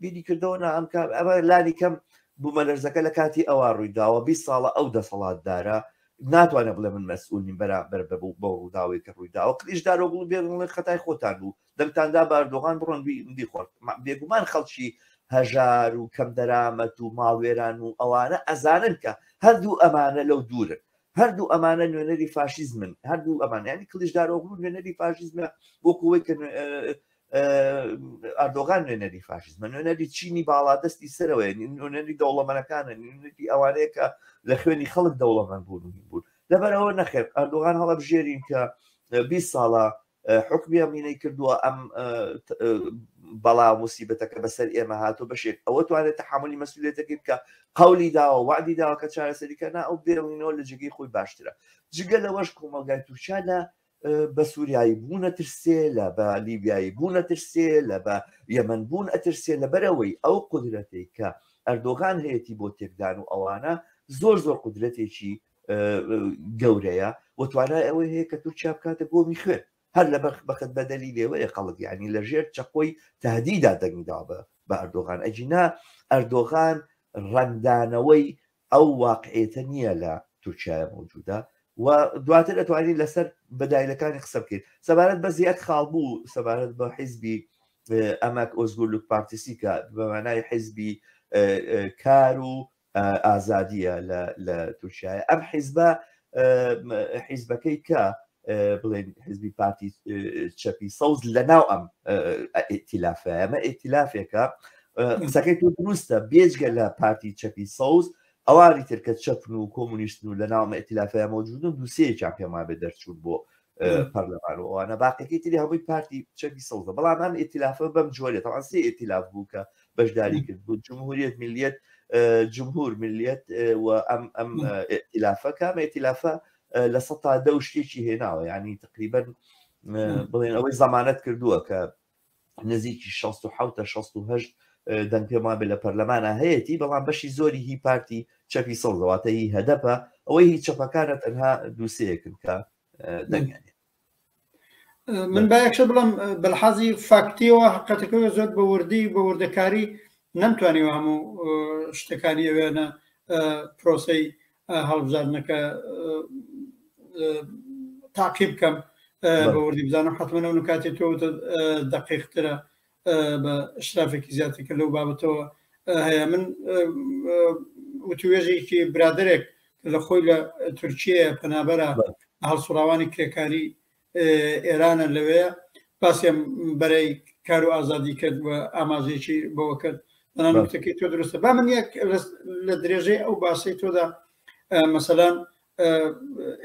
بیری کردەوە نا ئەم کام ئەمە لانی کەم بوومەلەرزەکە لە کاتی ئەوا ڕووی داوە بیست ساڵە ئەو دەسەڵاتدارە ناتوانێت بڵێ من مەسئول نیم بەرامبەر بە بوو بەو ڕووداوەی کە ڕووی داوە کلیش دارۆگڵ بێن بڵێ خەتای خۆتان بوو دەنگتاندا بە ئەردۆغان بڕۆن بی- بیخۆن ما- بێگومان خەڵکی هەژار و کەم دەرامەت و ماڵوێران و ئەوانە ئەزانن کە هەردوو ئەمانە لەو دوورن هەردوو ئەمانە نوێنەری فاشیزمن هەردوو ئەمان ینی کلیش دارۆگڵ نوێنەری فاشیزمە بۆ کوی کە نوێ- ئەردۆغان نوێنەری فاشزمە نوێنەری چینی باڵادەستی سەرەوەی نوێنەری دەوڵەمەنەکانە نوێنەری ئەوانەیە کە لە خوێنی خەڵک دەوڵەمەند بوون بوون لەبەرەوە نەخێت ئەردۆغان هەڵە بژێرین کە 20 ساڵە حکمی ئەمینەی کردووە ئەم بەڵا موسیبەتەکە بەسەر ئێمە هاتو بەشێک ئەوە توانێت تحملی مەسولێتەکە بکە قولی داوە وادی داوە کە چارەسەریکە نا ئەو بێڵینەوە لە جگەی خۆی باشترە جگە لەوەش کۆمەلگای تورکیا لە بە سووریایی بوو نەترسێ لە بە لیبیایی بوو نەترسێ لە بە یەمەەن بوون ئەترسێ لە بەرەوەی ئەو قدرەتێک کە ئەردۆغان هەیەی بۆ تێکدان و ئەوانە زۆر زۆر قدرەتێکی گەورەیە و توانای ئەوەی هەیە کە تورکیا بکاتە گۆمی خوێن هەر لە بەخ بەخت بەدەلی لێوەیە خەڵک ینی لە ژێر چەقۆی تهدیدا دەنگدا بە بە ئەردۆغان ئەجینا ئەردۆغان ڕەنگدانەوەی ئەو واقعیەتە نیە لە تورکیایە مەوجودە و دواتر ئەتوانین لەسەر بەدایلەکانی قسە بکەین سەبارەت بە زیاد خاڵ بوو سەبارەت بە حیزبی ئەمەک ئۆزگورلوک پارتیسی کە بەمانای حیزبی کار و ئازادیە لە تورکایە ئەم حیزبە حیزبەکەی کە بڵێن حزبی پارتی چەپی سەوز لە ناو ئەم ئتیلافە ئەمە ئتیلافێکە قسەکەی تو دروستە بێجگە لە پارتی چەپی سەوز ئەوانی ترکە چەپن و کۆمونیستن و لە ناومە ئتیلافەیە مەوجودن دوسەیەکیان پێمان بێ دەرچوون بۆ پەرلەمان و ئەوانە باقیەکەی تری هەمووی پارتی چەکی سەوزە بەڵام ئەم ئتیلافە بەم جۆرێت ئەوان سێ ئتیلاف بوو کە بەشداری کرد بوو جمهوریت ملیت جمهور ملیت و ئەم ئەم ئتیلافە کامە ئتیلافە لە سە تا دە شتێکی هێناوە ینی تقریبن بڵێن ئەوەی زمانەت کردووە کە نزیکی شەست و حەوت تا شەست و هەشت دەنگ پێم وابێ لە پەرلەمانا هەیەتی بەڵام بەشی زۆری هی پارتی چەپی سەوزە واتە هی هەدەپە ئەوەی هی چەپەکانە تەنها دوو سێیەکن کە دەنگیان هەیە. من باەکشە بڵم بەلحازی فاکتیەوە حقەتەکەەوە زۆر بە وردی بە وردەکاری نەمتوانیوە هەموو شتەکانی ئەوێنە پرۆسی هەڵبژاردنەکە تاقی بکەم بە وردی بزانم حتممە ئەو نکاتی تۆ دقیقترە بە شرافێکی زیاتر کە لەو بابەتەوە هەیە من وتوێژێکی برادێک لە خۆی لە تورکیە پەنابەرە هەڵسوڕاوانی کرێکاری ئێرانە لەوەیە باسیان بەرەی کار و ئازادی کرد و ئاماژێکی بەوە کرد نانوتەکەی تۆ درستە با من یەک لە درێژەی ئەو باسی تۆدا مەسەلاەن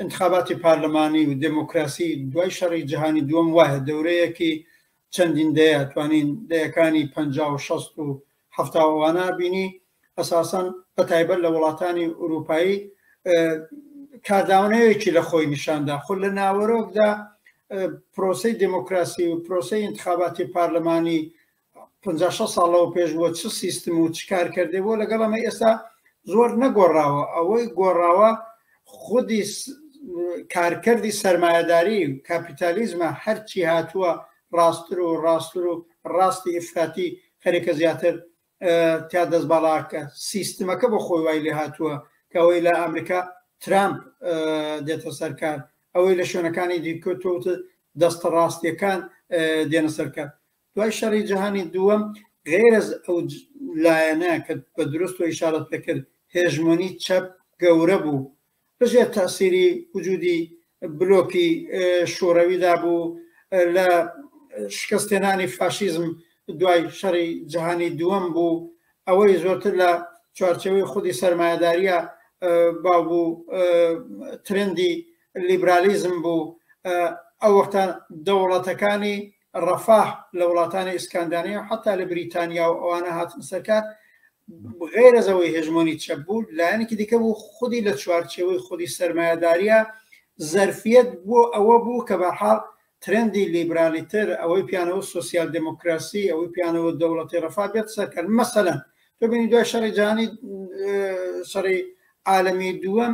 انتخاباتی پارلەمانی و دموکراسی دوای شەڕی جیهانی دووەم وایە دەورەیەکی چەندین دەیە توانین دەیەکانی پ و شەست و هەفتاوانە بینی ئەساسەن بە تایبەت لە وڵاتانی ئوروپایی کارداونەیەکی لە خۆی نیشاندا خۆ لە ناوەرۆکدا پرۆسی دموکراسی و پرۆسی انتخاباتی پارلمانی 56 ساڵەوە پێش بۆ چ سیستم و چ کارکردێ بۆ لەگەڵ ئەمە ئێستا زۆر نەگۆڕاوە ئەوەی گۆڕاوە خودی کارکردی سرمایهداری و کاپیتالیزمە هەرچی هاتووە ڕاستتر و ڕاستتر و ڕاستی ئفراتی خەریکە زیاتر تیا دەست باڵاکە سیستمەکە بۆ خۆی وای لێ هاتووە کەەوەی لە ئەمریکا ترامپ دێتە سەرکار ئەوەی لە شوێنەکانی دیکۆتوت دەستە ڕاستیەکان دێنە سەرکار دوای شەڕی جیهانی دووەم غێرز ئەو لایەنە کە بە درست و ئیشارەت پێکرد هێژمۆنی چەپ گەورە بوو لەژێر تاسیری وجودی بلۆکی شوڕەویدا بوو لە شکستێنانی فاشیزم دوای شەڕی جیهانی دووەم بوو ئەوەی زۆرتر لە چوارچەوەی خودی سەرمایەداریە باو بوو ترندی لیبرالیزم بوو ئەو وەختە دەوڵەتەکانی ڕەفاه لە وڵاتانی ئیسکاندانەیە و حتا لە بریتانیا و ئەوانە هاتن سەرکار غێرەزەوەی هێژمۆنی چەپ بوو لایەنێکی دیکە بوو خودی لە چوارچەوەی خودی سەرمایهداریە زەرفیت بۆ ئەوە بوو کە بەحاڵ ترندی لیبرالی تر ئەوەی پیانەوە سوسیال دموکراسی ئەوەی پیانەوە دەوڵەتی ڕفا بێت سەرکرد مەسەەن ببینی دوای شەڕی جانی شەڕی عالمی دووەم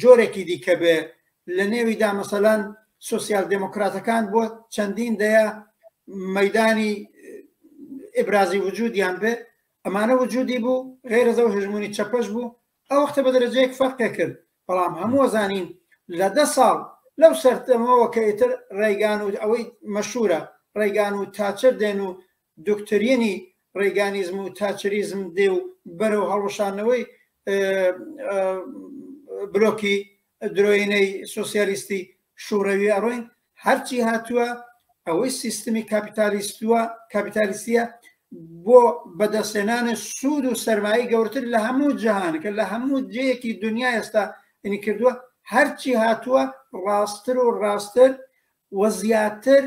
جۆرێکی دیکە بێ لە نێویدا مەسەلەن سۆسیال دێمۆکراتەکان بۆ چەندین دەیە مەدانی ئبرازی وجودیان بێ ئەمانە وجودی بوو غێرەزە و هژمونی چەپەش بوو ئەو وەختە بە دەرەجەیەک فەرقێ کرد بەڵام هەموو زانین لە دە ساڵ لەو سەرتەمەوە کە ئیتر ڕێگان و ئەوەی مەشورە ڕێگان و تاچر دێن و دۆکترینی ڕێگانیزم و تاچریزم دێ و بەرەو هەڵوشانەوەی بلۆکی درۆینەی سوسیالیستی شوڕەوی ئەڕۆین هەرچی هاتووە ئەوەی سیستمی کاپیتالیستوە کاپیتالیستە بۆ بەدەستێنانە سوود و سەرمایی گەورتر لە هەموو جیهانەکە لە هەموو جەیەکی دنیا ئێستا ئەنی کردووە هەرچی هاتووە ڕاستتر و ڕاستتر و زیاتر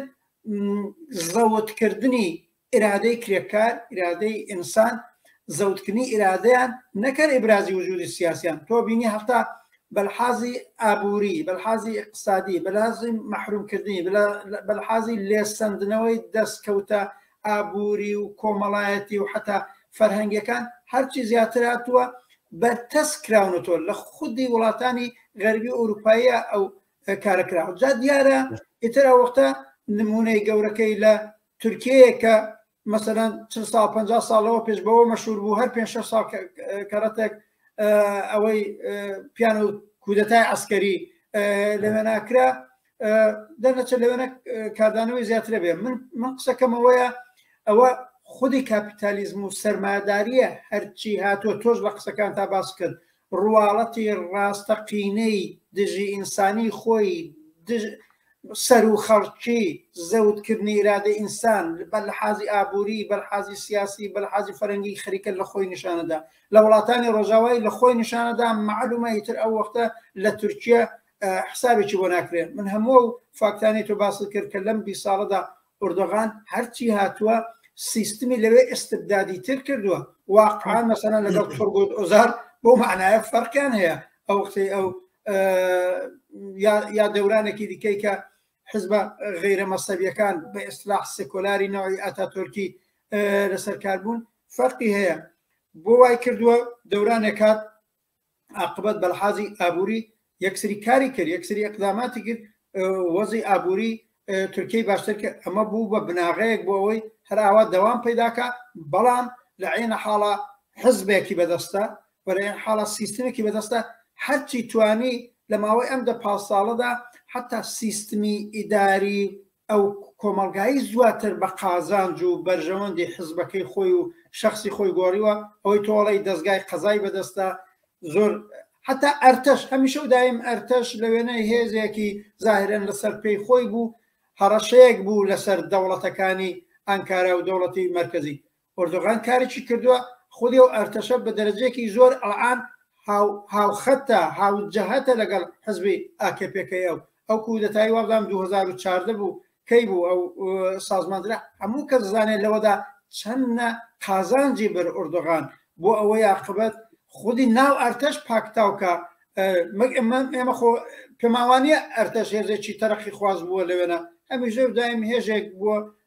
زەوتکردنی ئیرادەی کرێکار، ئیرادەی ئینسان، زەوتکردنی ئیرادەیان نەک هەر ئیبرازی وجودی سیاسیان، تۆ بینی هەتا بەلحازی ئابووری، بەلحازی ئیقتسادی، بەلحازی مەحرومکردنی، بەلحازی لێسەندنەوەی دەسکەوتە ئابووری و کۆمەڵایەتی و حەتا فەرهەنگیەکان هەرچی زیاتر هاتووە بەرتەسک کراونەتەوە لە خودی وڵاتانی غەربی و ئەوروپاییە ئەو کارە کراوە جا دیارە ئیتر ئەوەختە نمونەی گەورەکەی لە تورکەیە کە مەسەەن چ سا 50 ساڵەوە پێش بەوە مەشور بوو هەر پێ سا کەڕەتێک ئەوەی پیان و کودەتای ئەسکەری لەوێ ناکرا دەرنەچە لەوێنە کاردانەوەی زیاترە بێ من من قسەکەمەوەیە ئەوە خودی کاپیتالیزم و سەرماداریە هەرچی هاتووە تۆش لە قسەکان تا باس کرد ڕواڵەتی ڕاستەقینەی دژی ئینسانی خۆی دژ سەروو خەڵکی زەوت کردنی ئیرادەی ئینسان بە لە حازی ئابووری بە حازی سیاسی بە حازی فەرەنگی خەریکە لە خۆی نیشانەدا لە وڵاتانی ڕۆژاوای لە خۆی نیشانەدا معلومە ئیتر ئەو وەختە لە تورکیا حسابێکی بۆ ناکرێت من هەموو فاکتانی تو باست کرد کە لەم بی ساڵەدا ئۆردۆغان هەرچی هاتووە سیستمی لەوێ ئستبدادی تر کردووە واقعان مەسەنە لەگەڵ تۆرگۆت ئۆزار بۆ معناە فەرقیان هەیە ئەو قسەی ئەو یا دەورانێکی دیکەی کە حزبە غیرە مەسەبیەکان بە ئیسلاح سکۆلاری ناوی ئەتا تورکی لەسەر کاربوون فەرقی هەیە بۆ وای کردووە دەورانێکات ئاقبەت بەلحازی ئابووری یەکسری کاری کرد یەکسری ئەقداماتی کرد وەزی ئابووری تورکی باشتر کرد ئەمە بوو بە بناغەیەک بۆ ئەوەی هەراوا دەوام پیداکە بەڵام لە عینە حاڵە حزبێکی بەدەستە بەێن حاڵە سیستمێکی بەدەستە هەرچی توانی لە ماوەی ئەم دە پاس ساڵەدا حتا سیستمی ئیداری ئەو کۆمەڵگایی زواتر بە قازانج و بەرژەوەندی حزبەکەی خۆی و شخصی خۆی گۆڕیوە ئەوەی تۆڵی دەستگای قەزای بەدەستە زۆر حتا ئەرتەش هەمیشە و دایم ئەرتەش لە وێنەی هێزێکی زاهرن لەسەر پێی خۆی بوو هەڕەشەیەک بوو لەسەر دەوڵەتەکانی ئەنکارا و دەوڵەتی مرکزی ئۆردۆغان کارێکی کردوە خودی ئەو ئەرتەشە بە دەرەجەیەکی زۆر ئەڵآن هاو هاوخەتە هاوجەهەتە لەگەڵ حزبی ئاکەپێ کە ئەو ئەو کودەتایی وابزانم دوو هەزار و چاردە بوو کەی بوو ئەو سازماندرا هەموو کەس زانێت لەوەدا چەندە قازانجی بەر ئۆردۆغان بۆ ئەوەی عاقبەت خودی ناو ئەرتەش پاکتاوکە مەگ ئەمە ئێمە خۆ پێماوانیە ئەرتەش هێزێکی تەرەقی خواز بووە لەوێنە هەمیش لەو دایم هێژێک بووە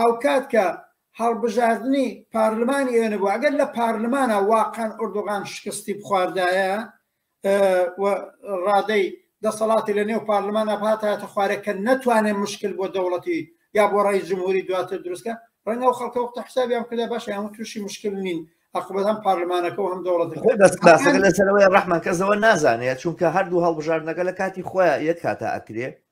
هاوکات کە هەڵبژاردنی پارلمانی ئێوە نەبوو ئەگەر لە پارلمانە واقعان ئۆردوغان شکستی بخواردایە ڕادەی دەسەڵاتی لە نێو پارلمان ئەپاتاتە خوارەکە نەتوانێت مشکل بۆ دەوڵەتی یا بۆ ڕای جمهوری دواتر دروستکە ڕەنگە و خەڵکە وقتە حسابیان کردا باش هەم تووشی مشکل نین ئەقبەت هەم پارلمانەکە و هەم دەوڵەت لەسەرەوەی ڕحمان کەسەوە نازانێت چونکە هەردوو هەڵبژاردنەکە لە کاتی خۆیان یەک کاتا ئەکرێ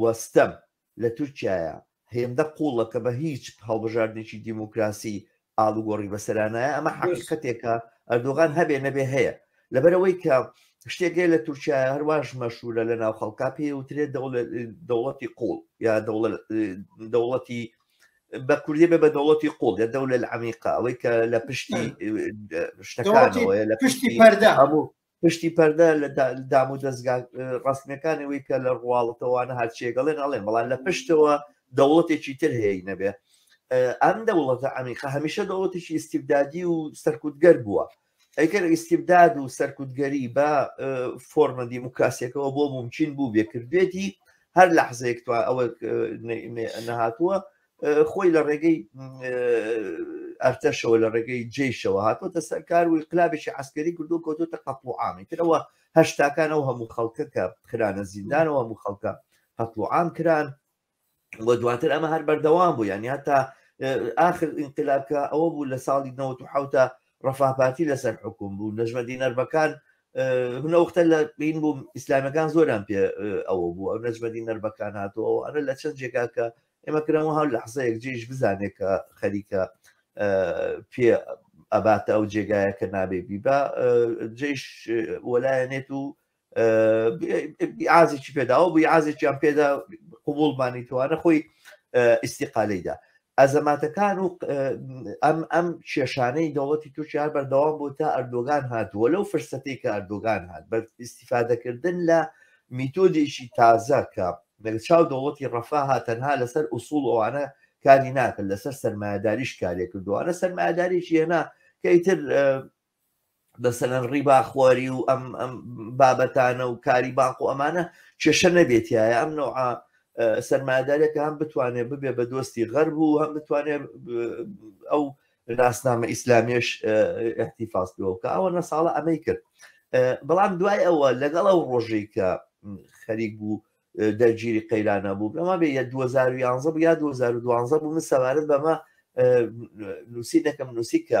و ستەم لە تورکیایە هێندە قووڵە کە بە هیچ هەڵبژاردنێکی دیموکراسی ئاڵوگۆڕی بەسەرا نایە، ئەمە حەقیقەتێکە ئەردۆغان هەبێ نەبێ هەیە، لەبەرئەوەی کە شتێک هەیە لە تورکیایە هەرواش مەشهوورە لە ناو خەڵکا پێی وترێت دەوڵەتی قووڵ یا دەوڵەتی بە کوردی بێ بە دەوڵەتی قوڵ یا دەولە عمیقا ئەوەی کە لە پشتی شتەکانەوەە لە پشتی پەردە هەموو پشتی پەردە لە دام و دەستگا ڕستنەکانی وی کە لە ڕواڵەتەوانە هەرچێگەڵێن ئەڵێن بەڵام لە پشتەوە دەوڵەتێکی تر هەیە نەبێ ئەم دەوڵەتە ئەمیقا هەمیشە دەوڵەتێکی ئیسیبدادی و سەرکوتگەر بووە ئەیکەر ئیسیبداد و سەرکوتگەری بە فۆرمە دیموکراسیەکەەوە بۆ ممکن بوو بێکردێتی هەر لە حزێکتوان ئەوە نەهاتووە خۆی لە ڕێگەی ئەرتەشەوە لە ڕێگەی جێشەوە هاتۆتە سەر کار و قلابێکی عسکەری کردو کەوتۆتە قەتڵ و عامی ترەوە هەشتاکان ئەو هەموو خەڵکە کە خرانە زیندانەوە هەموو خەڵکە قەتڵ و عام کران وە دواتر ئەمە هەر بەردەوام بوو یانی هەتا آخر ئینقلابکە ئەوە بوو لە ساڵی 1970 ڕفاپاتی لەسەر حکوم بوو نەژمە دینەربەکان هەوختە لە بین بوو ئیسلامەکان زۆران پێ ئەوە بوو ئەو نەژمەدی نەربەکان هاتەوە ئەرە لە چەند جێگا کە ئێمە کرم و هەر لەحزەیەک جێش بزانێت کە خەریکە پێ ئەباتە ئەو جێگایە کە نابێ بیبا جێش وەلایەنێت و ئازێکی پێداوە بووی ئازێکیان پێدا قوبولمانی توانە خۆی ئیسیقالەیدا ئەزەماتەکان و ئەم ئەم کێشانەی دەوڵەتی تورکیا بەردەوام بۆ تا ئەردۆگان هاتووە لەو فرسەتی کە ئەردۆگان هات بە ئیسیفادەکردن لە میتۆدێکی تازە کە بەرچاو دەوڵەتی ڕەفاها تەنها لەسەر ئوسوڵ ئەوانە کاری ناکرد لەسەر سەرمایەداریش کارێ کردوانە سەرمایەداریی هێنا کە ئیتر بەسەەن ڕیبا خواری و ئەم ئەم بابەتانە و کاری بانق و ئەمانە کێشە نەبێتیە ئەم نوع سەرمادارێکە هەم بتوانێت ببێ بە دۆستی غەرب و هەم بتوانێت ئەو ناسنامە ئیسلامیش احتیفاز پێوەکە ئەوە نە ساڵە ئەمەی کرد بەڵام دوای ئەوە لەگەڵ ئەو ڕۆژی کە خەریک بوو دەرگیری قەیرانە بوو بەما بێ 2011 یا 2012 بوو من سەوارت بەمە نووسی دەکەم نووسی کە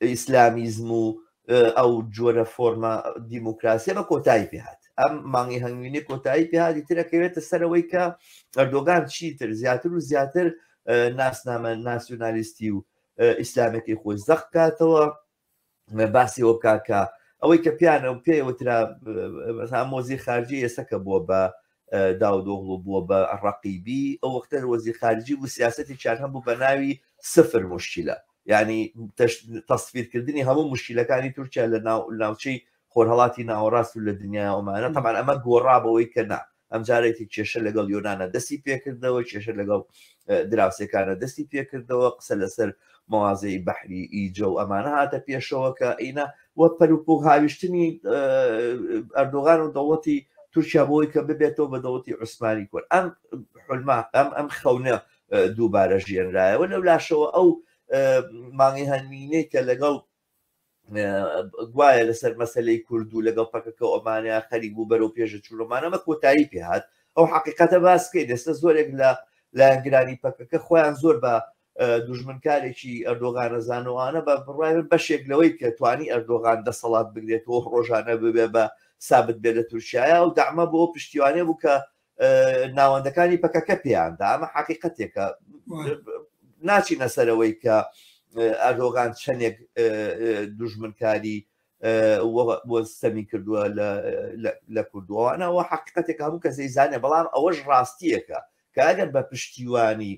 ئیسلامیزم و ئەو جۆرە فۆرمە دیموکراسیە بە کۆتایی پێهات ئەم مانگی هەنگوینی کۆتایی پێهاتی ترەکەوێتە سەرەوەی کە ئەردۆگان چیتر زیاتر و زیاتر ناسنامە ناسیۆنالیستی و ئیسلامەکەی خۆی زەق کاتەوە باسی وە بکاکە ئەوەی کە پیانە و پێوترا مۆزی خارجی ئێسەکە بووە بە داودۆغڵو بووە بە ڕەقیبی ئەو وەختە وەزیر خارجی بوو سیاستێکیان هەبوو بە ناوی سفر مشکلە ینی تەسفیرکردنی هەموو مشکلەکانی تورکیا لە ناوچەی خۆرهڵاتی ناوەڕاست و لە دنیای ئەومانە تەمان ئەمە گۆڕابەوەی کە نا ئەمجارێتی کێشە لەگەڵ یۆناە دەستی پێکردەوە کێشە لەگەڵ دراوسێکانە دەستی پێکردەوە قسە لەسەر مەوازەی بەحری ئیجە و ئەمانە هاتە پێشەوە کە ئینە و پەروپوک هاویشتنی ئەردۆغان و دەوڵەتی تورکیا بۆی کە ببێتەوە بە دەوڵەتی عوسمانی کورد ئەم حلما ئەم ئەم خەونە دووبارە ژێنرایەوە لەو لاشەوە ئەو مانگی هەنوینەی کە لەگەڵ گوایە لەسەر مەسلەی کورد و لەگەڵ پەکەکە ئۆمانیا خەریک بوو بەرەو پێشە چوونەمانەمە کۆتایی پێهات ئەو حقیقەتە باسکەی دەستە زۆرێک لە لایەنگرانی پەکەکە خۆیان زۆر بە دوژمنکارێکی ئەردۆغانەزانەوانە بە بڕای بەشێک لەوەی کە توانی ئەردۆغان دەسەڵات بگرێتەوە ڕۆژانە ببێ بە سابت بێ لە تورکایە و دامە بۆ پشتیوانێ بوو کە ناوەندەکانی پەکەکە پێیاندا ئەمە حقیقەتێکە ناچینە سەرەوەی کە ئەردۆغان چەندێک دوژمنکاری سەمی کردووە لە کوردوانەوە حقیقەتێک هەموو کەسەی زانێ بەڵام ئەوەش ڕاستیەکە کە ئەگەر بە پشتیوانی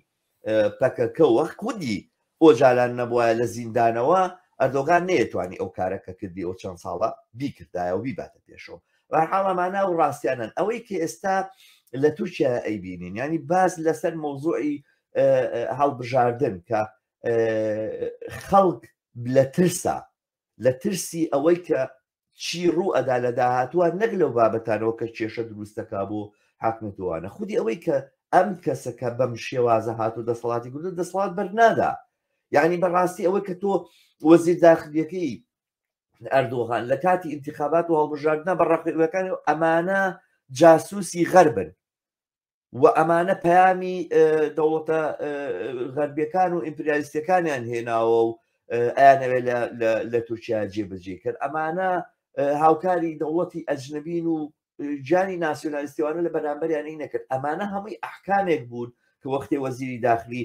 پەکەکە وەک خودی ئۆجالان نەبوایە لە زیندانەوە ئەردۆگان نەیەتوانی ئەو کارە کە کردی ئەو چەند ساڵە بیکردایە و بیباتە پێشەوە بەحاڵەمانە و ڕاستیانن ئەوەی کە ئێستا لە تورکیا ئەیبینین ینی باز لەسەر مۆزوعی هەڵبژاردن کە خەڵک لە ترسا لە ترسی ئەوەی کە چی ڕوو ئەدا لە داهاتوە نەک لەو بابەتانەوە کە کێشە دروست دەکا بۆ حاکمیەتی وانە خودی ئەوەی کە ئەم کەسە کە بەم شێوازە هاتو دەسەڵاتی گرتو دەسەڵات بەرنادا یعنی بەڕاستی ئەوەی کە تۆ وەزیر داخلیەکەی ئەردۆغان لە کاتی انتخابات و هەڵبژاردنە بە ڕەخەکانی ئەمانە جاسوسی غەربن و ئەمانە پەیامی دەوڵەتە غەربیەکان و ئیمپریالیستەکانیان هێناوە و ئەیانەوێت لە تورکیا جێبەجێ کرد ئەمانە هاوکاری دەوڵەتی ئەجنبین و جانی ناسیۆنالیستیوانە لە بەرامبەریانی نەکرد ئەمانە هەمووی ئەحکامێک بوون کە وەختی وەزیری داخلی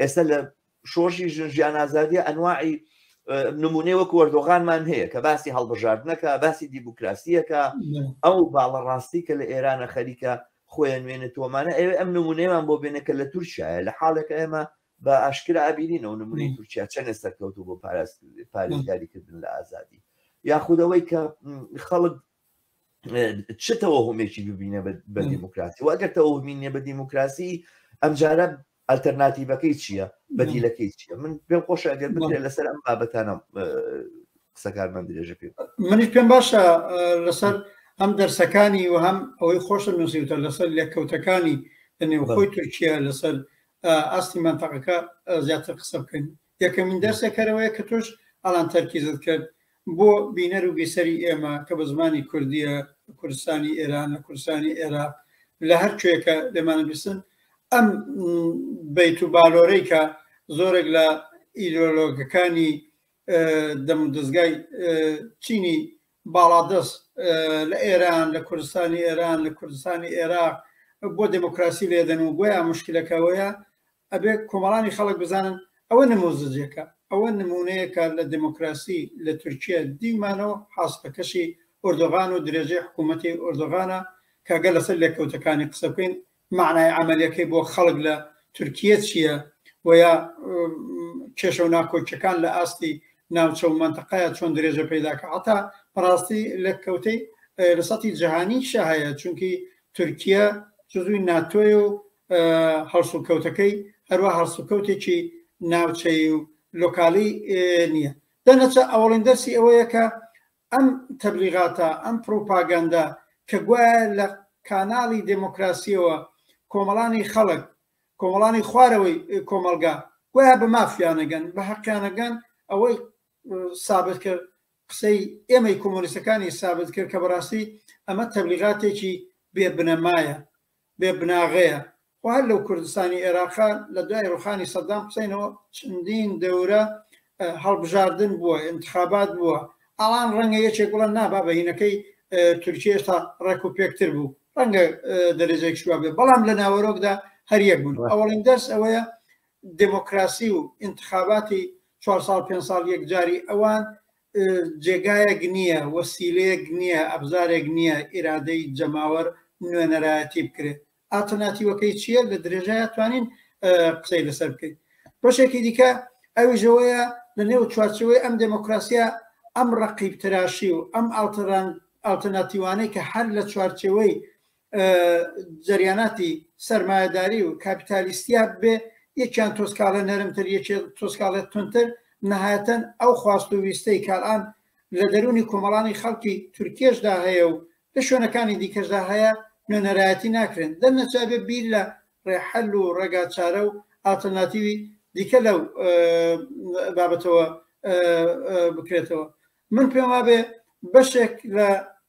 ئێستا لە شۆرشی ژن ژیان ئازادی ئەنواعی نمونێ وەک وەردۆغانمان هەیە کە باسی هەڵبژاردنەکە باسی دیموکراسیەکە ئەو باڵە ڕاستی کە لە ئێرانە خەریکە خۆیان نوێنە تۆمانە ئەوێ ئەم نمونێمان بۆ بێنە کە لە تورکایە لە حاڵێک ئێمە بە ئاشکرا ئابیرین ئەو نمونی تورکیا چەندە سەرکەوت و بۆ پاراست پارێزگاریکردن لە ئازادی یاخودەوەی کە خەڵک چ تەوەهمێکی ببینە بە دیموکراسی و ئەگەر تەوەهمین نیە بە دیموکراسی ئەمجارە ئەلتەرناتیڤەکەی چییە بەدیلەکەی چیە من پێم خۆشە ئەگەر بکرێت لەسەر ئەم بابەتانە قسەکار من درێژە پێ منیش پێم باشە لەسەر ئەم دەرسەکانی و هەم ئەوەی خۆشە نووسیوتە لەسەر لێککەوتەکانی لە نێوخۆی تورکیا لەسەر ئاستی منتەقەکە زیاتر قسە بکەین یەکەمین دەرسێک کەرەوەیە کە تۆش ئەڵان تەرکیزت کرد بۆ بینەر و بیسەری ئێمە کە بە زمانی کوردیە کوردستانی ئێران لە کوردستانی عێراق لە هەر کوێکە لەمانە بیستن ئەم بیت و بالۆرەی کە زۆرێک لە ئیدۆلۆگەکانی دەم دەستگای چینی باڵادەست لە ئێران لە کوردستانی ئێران لە کوردستانی عێراق بۆ دموکراسی لێدەن و گویا مشکلەکەەوەیە ئەبێ کۆمەڵانی خەڵک بزانن ئەوە نموزجێکە، ئەوە نموونەیەکە لە دێمۆکراسی لە تورکییە دیومانەو حاسڵەکەشی ئۆردۆغان و درێژەی حکوومەتی ئۆردۆغانە کە ئەگەر لەسەر لێکەوتەکانی قسە بکەین مەعنای عەمەلییەکەی بۆ خەڵک لە تورکییە چییە و یا کێشە و ناکۆکییەکان لە ئاستی ناوچە و مەنتەقەیە چۆن درێژە پەیدا کە عەتا بەڕاستی لێککەوتەی لە سەتی جیهانیشە هەیە چونکی تورکییە جزوی ناتۆیە و هەڵسوکەوتەکەی هەروا هەڵسوکەوتێکی ناوچەیی و لۆکالی نییە دەنەچە ئەوڵین دەرسی ئەوەیە کە ئەم تەبلیغاتە ئەم پروپاگەندە کە گوایە لە کاناڵی دموکراسیەوە کۆمەڵانی خەڵک کۆمەڵانی خوارەوەی کۆمەلگا گویا بە مافیانەگەن بە حەقیانەگەن ئەوەی سابت کرد قسەی ئێمەی کۆمۆنیستەکانی سابت کرد کە بەڕاستی ئەمە تەبلیغاتێکی بێ بنەمایە بێ بناغەیە خۆ هەر لەو کوردستانی عێراقا لە دوای ڕوخانی سەدام حسینەوە چەندین دەورە هەڵبژاردن بووە انتخابات بووە ئەڵان ڕەنگە یەکێک بڵەن نابا بەینەکەی تورکیە تا ڕێک و پێکتر بوو ڕەنگە دەرێجێک شووا بێ بەڵام لە ناوەرۆکدا هەریەک بوون ئەوڵین دەرس ئەوەیە دموکراسی و انتخاباتی چوار ساڵ پێ ساڵ یەکجاری ئەوان جێگایەک نییە وەسیلەیەک نییە ئەبزارێک نییە ئیرادەی جەماوەر نوێنەرایەتی بکرێت ئاتەناتیوەکەی چییە لە درێژای توانین قسەی لەسەر بکەین بەشێکی دیکە ئەویژەوەیە لە نێو چوارچەوەی ئەم دموکراسیە ئەم ڕقیب تراشی و ئەم ئاڵتەران ئاڵتەناتیوانەی کە هەر لە چوارچەوەی جەریاناتی سەرمایەداری و کاپیتالیستیا بێ یەکیان تۆسکاڵە نەرمتر یەکێ تۆسکاڵێت تونتر نەهایەتەن ئەو خواست و ویستەی کاران لە دەرونی کۆمەڵانی خەڵکی تورکێشدا هەیە و لە شوێنەکانی دیکەشدا هەیە نوێنەرایەتی ناکرێن دەرنەچابێ بیر لە ڕێحەل و ڕێگاچارە و ئاتەناتیوی دیکە لەو بابەتەوە بکرێتەوە من پێم وابێ بەشێک لە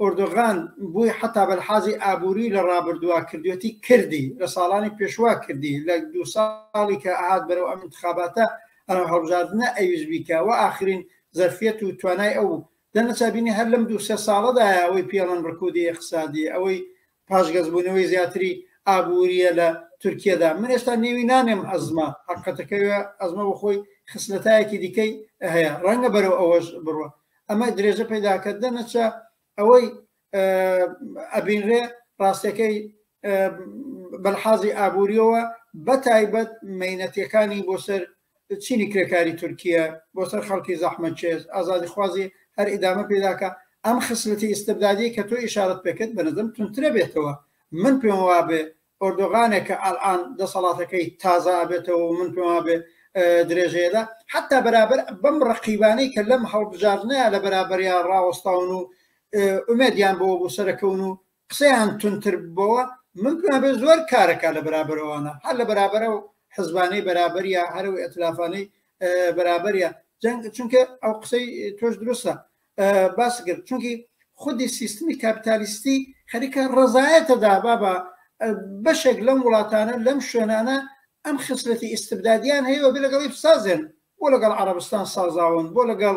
ئۆردۆغان بوی حەتا بەلحازی ئابوری لە ڕابردوا کردوێتی کردی لە ساڵانی پێشوا کردی لە دوو ساڵی کە ئەهات بەرەو ئەم ئینتخاباتە ئەم هەڵبژاردنە ئەویست بیکا وە ئاخرین زەرفیەت و توانای ئەو بوو دەنا چابینی هەر لەم دوو سێ ساڵەدایە ئەوەی پێڵن ڕکودی ئیقسادی ئەوەی پاشگەزبوونەوەی زیاتری ئابوورییە لە تورکیەدا. من ئێستا نێوی نانێم ئەزمە، هەقەتەکەوێ ئەزمە بۆ خۆی خسلەتایەکی دیکەی هەیە، ڕەنگە بەرەو ئەوەش بڕوا. ئەمە درێژە پەیدا کردە نەچە ئەوەی ئەبینرێ ڕاستەکەی بەلحازی ئابووریەوە بەتایبەت مەینەتیەکانی بۆ سەر چینی کرێکاری تورکییە بۆ سەر خەڵکی زەحمەتکێش، ئازادیخوازی هەر ئیدامە پێدا کە ئەم خسلەتی ئیستبدادیەی کە تۆ ئیشارەت پێ کرد بەنظرم توندترە بێتەوە، من پێم وابێ ئۆردۆغانێ کە ئەلئان دەسەڵاتەکەی تازە ئەبێتەوە و من پێم وابێ درێژەیەدا حتا بەرابەر بەم ڕقیبانەی کە لەم هەڵبژاردنەیە لە بەرابەریا ڕاوەستاون و ئومێدیان بۆ بوو سەرەکەون و قسەیان تونتر ببەوە من پێم بێ زۆر کارەکە لە بەرابەرەوانە هەر لە بەرابەرە و حزبانەی بەرابەریە هەرو ئەتلافانەی بەرابەریە جەنگ چونکە ئەو قسەی تۆش دروستە باس کرد چونکی خودی سیستمی کاپیتالیستی خەریکە ڕزایەتە دابا بە بەشێک لەم وڵاتانە لەم شوێنانە ئەم خسلەتی ئیسبدادیان هەیە بێ لەگەڵی سازێن بۆ لەگەڵ عربستان سازاون بۆ لەگەڵ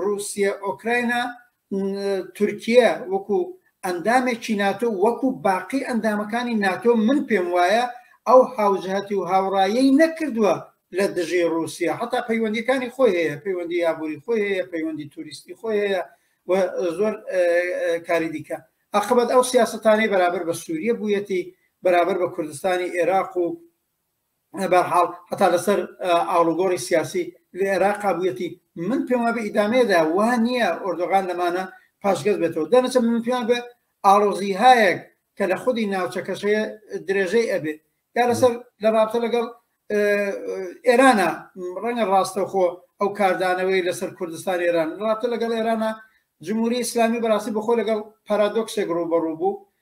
ڕووسیە، ئۆکراینا، تورکیە وەکو ئەندامێکی ناتۆ وەکو باقی ئەندامەکانی ناتۆ من پێم وایە ئەو هاوجهتی و هاوڕایی نەکردووە لە دژی ڕووسیا هەتا پەیوەندیەکانی خۆی هەیە پەیوەندی یابووری خۆی هەیە پەیوەندی توریستی خۆی هەیە و زۆر کاری دیکە ئەخبەت ئەو سیاستانەی بەرابەر بە سووریە بوویەتی بەرابەر بە کوردستانی عێراق و بەرحاڵ هەتا لەسەر ئاڵوگۆڕی سیاسی لە عێراق بوویەتی من پێم وابێ ئیدامەیەدا وا نییە ئۆردۆغان لەمانە پاشگەز بێتەوە دەنەچە من پێیان بێ ئاڵۆزی هایەک کە لە خودی ناوچەکەشەیە درێژەی ئەبێ یا لەسەر لە رابتە لەگەڵ ئێرانە ڕەنگە ڕاستەخۆ ئەو کاردانەوەی لەسەر کوردستان ئێران ڕاتە لەگەڵ ئێرانە جمهوری ئسلامی بەڕاستی بخۆ لەگەڵ پارادۆکسێک ڕوبەڕوو بوو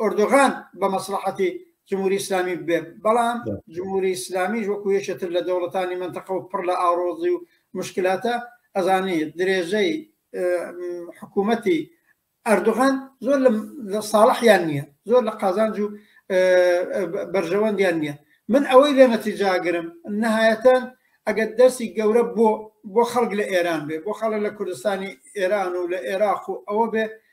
ئۆردۆغان بە مەسلحەتی جمهوری ئسلامی بێ بەڵام جمهوری ئسلامیش وەکو یەکێتر لە دەوڵەتانی منتەقە و پڕ لە ئاڕۆزی و مشکلاتە ئەزانی درێژەی حکوومەتی ئەردوغان زۆر لە ساڵحیان نییە زۆر لە قازانج و بەرژەوەندیان نییە من ئەوەی لێ نەتیجاگرم نهایەتەن ئەگەر دەرسی گەورە بۆ بۆ خەڵک لە ئێران بێ بۆ خەڵک لە کوردستانی ئێران و لە عێراق و ئەوە بێ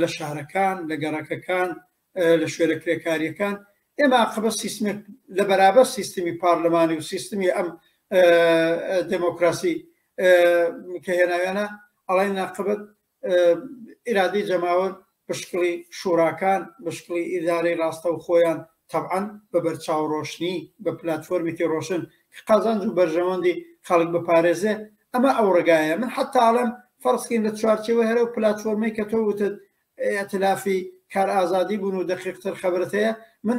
لە شارەکان، لە گەڕەکەکان، لە شوێنە کرێکارییەکان، ئێمە ئاقەبەت سیستمێک لە بەرابەر سیستمی پارلمانی و سیستمی ئەم دموکراسی کە هێناویانە ئەڵێن ناقبەت ئیرادی جەماوەر بشکڵی شوراکان بشکڵی ئیدارەی ڕاستە و خۆیان تەبعەن بە بەرچاو ڕۆشنی بە پلاتفۆرمێکی ڕۆشن کە قازانج و بەرژەوەندی خەڵک بپارێزێ ئەمە ئەو ڕێگایە من حەتا ئەڵێم فەرزکەین لە چوارچێوەی هەر ئەو پلاتفۆرمەی کە تۆ وتت ئەتلافی کار ئازادی بوون و دەقیقتر خەبرت هەیە من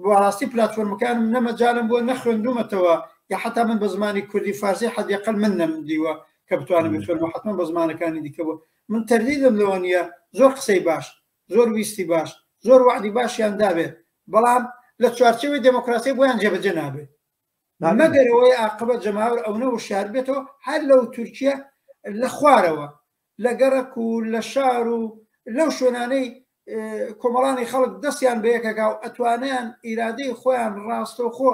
بەڕاستی پلاتفۆرمەکانم نەمەجالم بووە نەخوێندومەتەوە یا حتا من بە زمانی کوردی فارسی حدیقل من نەمدیوە کە بتوانم بخوێنەوە حتمما بە زمانەکانی دیکە بوو من تەردیدم لەوە نیە زۆر قسەی باش زۆر ویستی باش زۆر وەعدی باشیان دابێ بەڵام لە چوارچێوەی دێمۆکراسی بۆیان جێبەجێ نابێت مەگەر ئەوەی ئاقبەت جەماوەر ئەونە وشار بێتەوە هەر لەو تورکیە لە خوارەوە لە گەڕەک و لە شار و لەو شوێنانەی کۆمەڵانی خەڵک دەستیان بەیەکەکە و ئەتوانیان ئیرادەی خۆیان ڕاستەوخۆ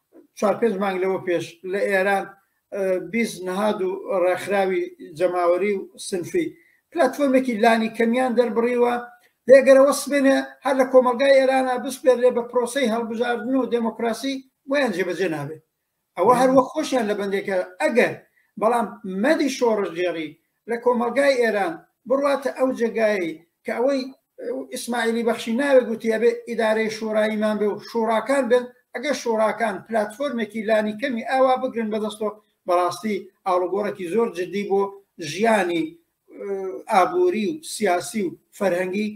چوار پێنج مانگ لەوە پێش لە ئێران بیست نهاد و ڕێکخراوی جەماوەری و سنفی پلاتفۆرمێکی لانی کەمیان دەربڕیوە لێگەرە وەسبێنێ هەر لە کۆمەلگای ئێرانە بسپێرێ بە پرۆسی هەڵبژاردن و دموکراسی بۆیان جێبەجێ نابێت ئەوە هەروە خۆشیان لە بەندێکە ئەگەر بەڵام مەدی شۆڕشگێڕی لە کۆمەڵگای ئێران بڕواتە ئەو جێگایی کە ئەوەی ئیسماعیلی بەخشی ناوێ گوتی ئەبێ ئیدارەی شوڕاییمان بێ و شوڕاکان بن ئەگەر شوڕاکان پلتفۆرمێکی لانی کەمی ئاوا بگرن بەدەستەوە بەڕاستی ئاڵوگۆڕێکی زۆر جددی بۆ ژیانی ئابووری و سیاسی و فەرهەنگی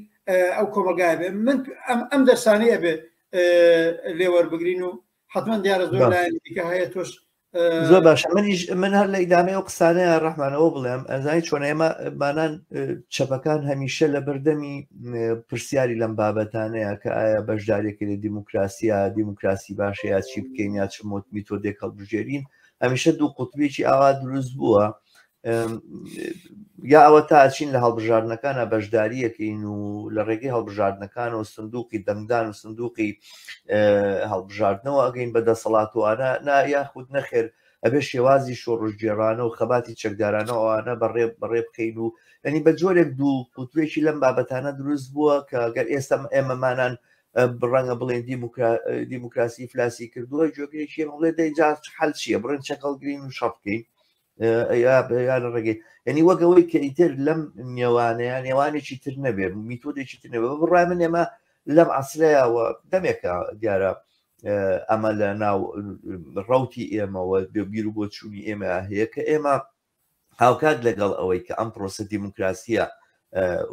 ئەو کۆمەلگای بێ من ئەم دەرسانەیە بێ لێوەربگرین و حتمما دیارە زۆر لایەن دیکە هەیە تۆش زۆر باشە منیش من هەر لە ئیدامەیە و قسانەیە ڕحمانەوە بڵێم ئەزای چۆن ئێمە بانان چەپەکان هەمیشە لە بەردەمی پرسیاری لەم بابەتانەیە کە ئایا بەشدارێکی لە دیموکراسیە دیموکراسی باشەیە چی بکەین یا چ مۆت میتۆدێک هەڵبژێرین هەمیشە دوو قوتبێکی ئاوا دروست بووە یا ئەوە تا ئەچین لە هەڵبژاردنەکانە بەشداریەکەین و لە ڕێگەی هەڵبژاردنەکانەوە سندوقی دەنگدان و سندوقی هەڵبژاردنەوە ئەگەین بە دەسەڵات و ئانا نا یاخود نەخێر ئەبێ شێوازی شۆڕژگێرانە و خەباتی چەکدارانە ئەوانە بەڕێ بەڕێ بکەین و ئەنی بە جۆرێک دوو کوتوێکی لەم بابەتانە دروست بووە کە گەر ئێستا ئێمەمانان بڕەنگە بڵێن دیموکراسی فلاسی کردووە جۆگرێکی هەڵێ دەی جار حل چیە بڕێن چەکەڵگرین و شەڕکەین یان ڕێگەی یعنی وەگەوەی کە ئیتر لەم نێوانەیە نێوانێکی تر نەبێ میتۆدێکی تر نەبێ بڕای من ئێمە لەم عسرەیەوە دەمێکە دیارە ئەمە لە ناو ڕوتی ئێمەوە بیر و بۆ چووی ئێمە هەیە کە ئێمە هاوکات لەگەڵ ئەوەی کە ئەم پرۆسە دیموکراسیە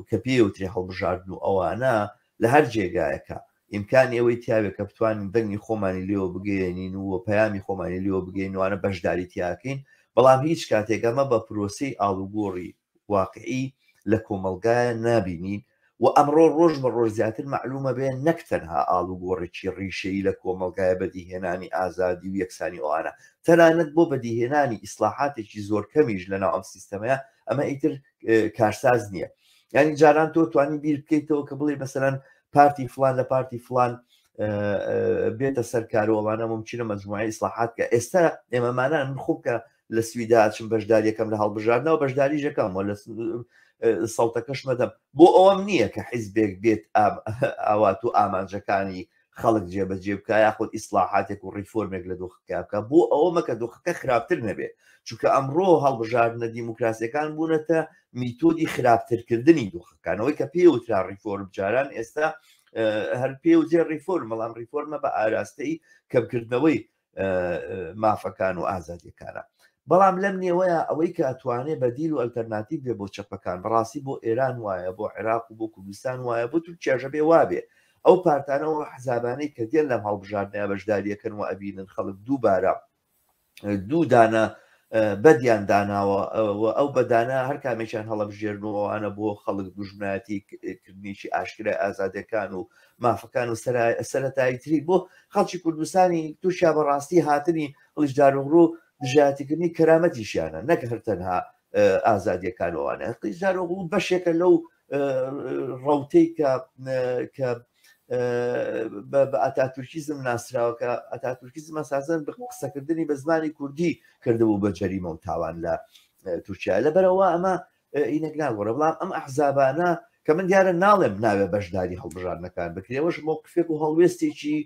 کە پێوتری هەڵبژاردن و ئەوانە لە هەر جێگایەکە ئیمکانی ئەوەی تیاێ کە بتوانین دەنگی خۆمانی لێوە بگەێنین و پەیامی خۆمانی لێوە بگەینوانە بەشداری تیاکەین بەڵام هیچ کاتێک ئەمە بە پرۆسی ئاڵوگۆڕی واقعی لە کۆمەلگایە نابینین و ئەمڕۆ ڕۆژ بە ڕۆژ زیاتر معلومە بێ نەک تەنها ئاڵوگۆڕێکی ڕیشەیی لە کۆمەلگایە بەدیهێنانی ئازادی و یەکسانی ئەوانە تەنانەت بۆ بەدیهێنانی ئیسلاحاتێکی زۆر کەمیش لە ناو ئەم سیستەمەیە ئەمە ئیتر کارساز نییە ینی جاران تۆ توانی بیر بکەیتەوە کە بڵێ مەسەرەن پارتی فلان لە پارتی فلان بێتە سەر کارۆڵانە ممکنە مەجموعی ئیسلاحات کە ئێستا ئێمەمانان من خوب کە لە سویدا چم بەشداریەکەم لە هەڵبژاردنەوە بەشداری ژەکەم و لە سەڵتەکەش مەدەم بۆ ئەوەم نییە کە حیزبێک بێت ئاوات و ئامانجەکانی خەڵک جێبەجێ بکە یاخود ئیسلاحاتێک و ڕیفۆرمێک لە دۆخەکە بکە بۆ ئەوە مەکە دۆخەکە خراپتر نەبێت چونکە ئەمڕۆ هەڵبژاردنە دیموکراسیەکان بوونەتە میتۆدی خراپترکردنی دۆخەکان ئەوەی کە پێ وترا ڕیفۆرم جاران ئێستا هەر پێ وجێ ڕیفۆرم بەڵام ڕیفۆرمە بە ئاراستەی کەمکردنەوەی مافەکان و ئازادیەکانە بەڵام لەم نێوەیە ئەوەی کە توانێ بەدیل و ئەلتەرناتیب بێ بۆ چەپەکان بەڕاستی بۆ ئێران وایە بۆ عێراق و بۆ کوردستان وایە بۆ تورکیاژە بێ وابێ ئەو پارتانەوە حزابانەی کە دێن لەم هەڵبژاردنە بەشداریەکەن و ئەبینن خەڵک دووبارە دوو دانە بەدیان داناوە و ئەو بەدانە هەر کامێکیان هەڵەبژێرن و ئەوانە بۆ خەڵک دوژمنایەتی کردنیی ئاشکرای ئازادەکان و مافەکان و سەرەتایی تری بۆ خەڵکی کوردستانی تورکیا بەڕاستی هاتنی هەڵشداروغڕ و دژاتیکردنی کەرامەتیشیانە نەک هەر تەنها ئازادیەکانوانە قیزار و بەشێکە لەو ڕوتەی کە کە بە ئەتاتورکیزم ناسراوەکە ئەتاتورکیزم ئەسازن بە قسەکردنی بە زمانی کوردی کردبوو بە جەریمە و تاوان لە تورکیا لە بەرەوە ئەمە ئینەک ناگۆڕە بڵام ئەم ئەحزابانە کە من دیارە ناڵێم ناوێ بەشداری هەڵبژاردنەکان بکرێەوەش مۆقفێک و هەڵوێستێکی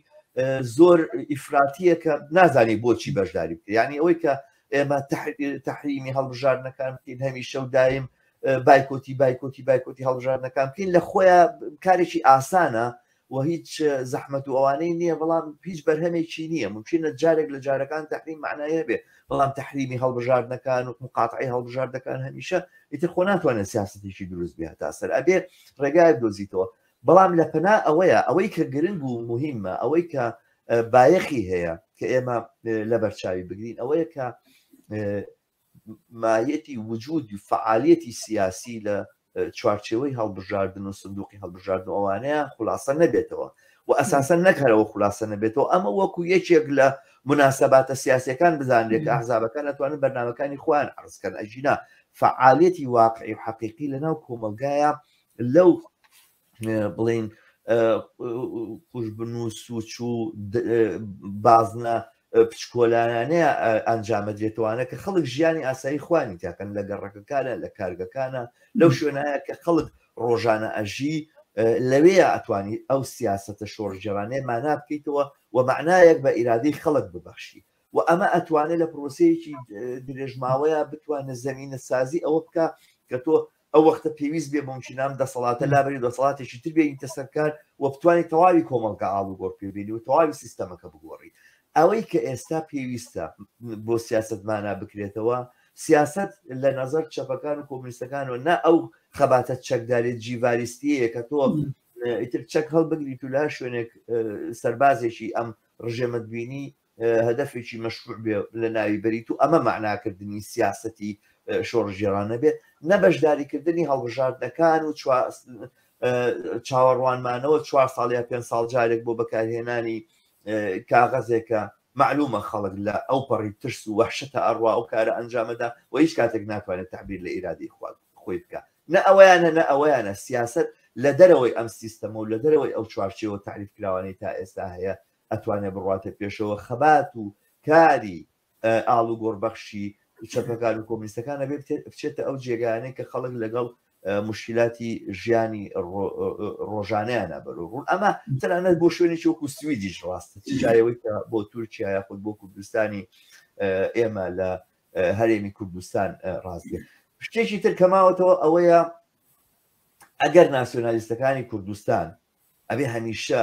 زۆر ئیفراتیە کە نازانی بۆچی بەشداری بکە ینی ئەوەی کە ئێمە تحریمی هەڵبژاردنەکان بکەین هەمیشە و دایم بایکۆتی بایکۆتی بایکۆتی هەڵبژاردنەکان بکەین لە خۆیان کارێکی ئاسانە و هیچ زەحمت و ئەوانەی نییە بەڵام هیچ بەرهەمێکی نییە ممکنە جارێک لە جارەکان تحریم معناە بێ بەڵام تحریمی هەڵبژاردنەکان و مقاطعی هەڵبژاردەکان هەمیشە ئیتر خۆ ناتوانێت سیاستێکی دروست بێ تا سەر ئەبێ ڕێگایە دۆزیتەوە بەڵام لە پەنا ئەوەیە ئەوەی کە گرنگ و مهمە ئەوەی کە بایەخی هەیە کە ئێمە لە بەرچاوی بگرین ئەوەیە کە مایەتی وجود و فەعالیەتی سیاسی لە چوارچێوەی هەڵبژاردن و سندوقی هەڵبژاردن و ئەوانەیە خولاسە نەبێتەوە و ئەساسەن نەک هەرەوە خولاسە نەبێتەوە ئەمە وەکو یەکێک لە مناسباتە سیاسەکان بزانرێت کە ئەحزابەکان ئەتوانن بەرنامەکانی خۆیان عرزکەن ئەژینا فعالیەتی واقعی و حەقیقی لەناو کۆمەلگایە لەو بڵین کوش بنووس و چوو بازنە پچکۆلانانەیە ئەنجامە دێتوانە کە خەڵک ژیانی ئاسایی خوانی تاکەن لە گەڕەکەکانە لە کارگەکانە لەو شوێنایە کە خەڵک ڕۆژانە ئەژی لەوێ ئەتوانی ئەو سیاستە شۆڕژێرانێ مانا بکەیتەوە و معنایەک بە ئیرادەی خەڵک ببەخشی و ئەمە ئەتوانێت لە پرۆسەیەکی درێژماوەیە بتوانە زمینە سازی ئەوە بکە کە تۆ ئەو وەختە پێویست بێ ممکنە ئەم دەسەڵاتە لابەری دەسەڵاتێکی تر بێنیتە سەرکار و بتوانێت تەواوی کۆمەڵگە ئاڵ و گۆڕ پێبێنی و تەواوی سیستەمەکە بگۆڕی ئەوەی کە ئێستا پێویستە بۆ سیاست مانا بکرێتەوە سیاست لە نظر چەپەکان و کۆمنیستەکان و نا ئەو خەباتە چەکدارێت جیڤاریستیەیە کە تۆ ئیتر چەک هەڵبگریت و لا شوێنێک سەربازێکی ئەم ڕژێمەت بینی هەدەفێکی مەشروع بێ لە ناوی بەریت و ئەمە مەعناکردنی سیاسەتی شۆڕشگێڕانە بێت، نە بەشداریکردنی هەڵبژاردنەکان و چاوەڕوانمانەوە چوار ساڵ یا پێنج ساڵ جارێک بۆ بەکارهێنانی کاغەزێکە مەعلومە خەڵک لە ئەو پەڕی ترس و وەحشەتە ئەڕوا ئەو کارە ئەنجامەدا و هیچ کاتێک ناتوانێت تعبیر لە ئیرادەی خواد خۆی بکە نە ئەویانە نە ئەویانە سیاست لە دەرەوەی ئەم سیستەمە و لە دەرەوەی ئەو چوارچێوە تعریف کراوانەی تا ئێستا هەیە ئەتوانێ بڕاتە پێشەوە خەبات و کاری ئاڵ و گۆڕبەخشی چەپەکان و کۆمیستەکانە بێ بچێتە ئەو جێگانەی کە خەڵک لەگەڵ مشکلاتی ژیانی ڕۆژانیانە بەرو ڕوون ئەمە تەنانەت بۆ شوێنێکی وەکو سویدیش ڕاستە چایەوەی کە بۆ تورکیا یاخود بۆ کوردستانی ئێمە لە هەرێمی کوردستان ڕاستێ شتێکی تر کەماوەتەوە ئەوەیە ئەگەر ناسیۆنالیستەکانی کوردستان ئەبێ هەمیشە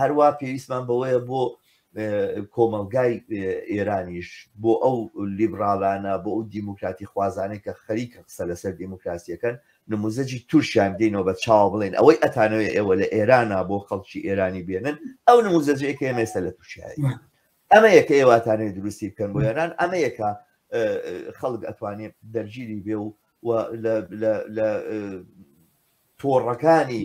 هەروا پێویستمان بەوەیە بۆ کۆمەلگای ئێرانیش بۆ ئەو لیبرالانە بۆ ئەو دیموکراتی خوازانێک کە خەریکە قسە لەسەر دیموکراسیەکەن نموزەجی تورکیان دێنەوە بە چاوە بڵێن ئەوەی ئەتانەوە ئێوە لە ئێرانە بۆ خەڵکی ئێرانی بێنن ئەو نموزەجەیە کە ئێمێستا لە تورکیایی ئەمە یەکە ئێواتانێ دروستی بکەن بۆ ئێران ئەمە یەکە خەڵک ئەتوانێت دەرگیری بێ و لە تۆڕەکانی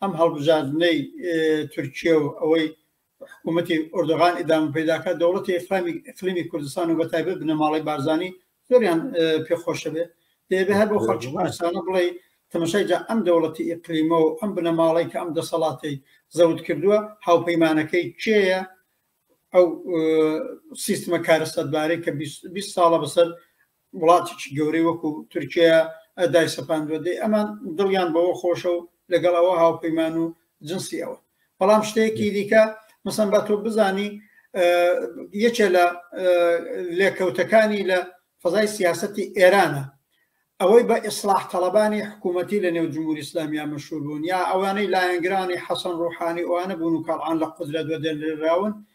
ئەم هەڵبژاردنەی تورکیە و ئەوەی حکوومەتی ئۆردۆغان ئیدام پیداکە دەوڵەتی ئفامی ئەقلیمی کوردستان و بەتایبەت بنەماڵی بارزانانی زۆریان پێخۆشە بێت دەبێ هەر بۆ خەڵکی کوردستانە بڵێ تەمەشای جا ئەم دەوڵەتی ئیقلیمە و ئەم بنەماڵی کە ئەم دەسەڵاتی زەوت کردووە هاوپەیمانەکەی کێیە ئەو سیستمە کارەسەتبارەی کە 20 ساڵە بەسەر وڵاتێکی گەورەی وەکو تورکیا ئەدای سەپاندوە دەی ئەمان دڵیان بەوە خۆشە و لەگەڵ ئەوە هاوپەیمان و جنسی ئەوە بەڵام شتەیەکی دیکە مەسەن با تۆ بزانی یەکێ لە لێکەوتەکانی لە فەزای سیاستی ئێرانە ئەوەی بە ئیسلاح تەڵەبانی حکوومەتی لە نێو جمهوری ئسلامیا مەشوربوون یا ئەوانەی لایەنگرانی حەسەن ڕوحانی ئەوانە بوون و کاڵان لە قدرەت وەدەنراون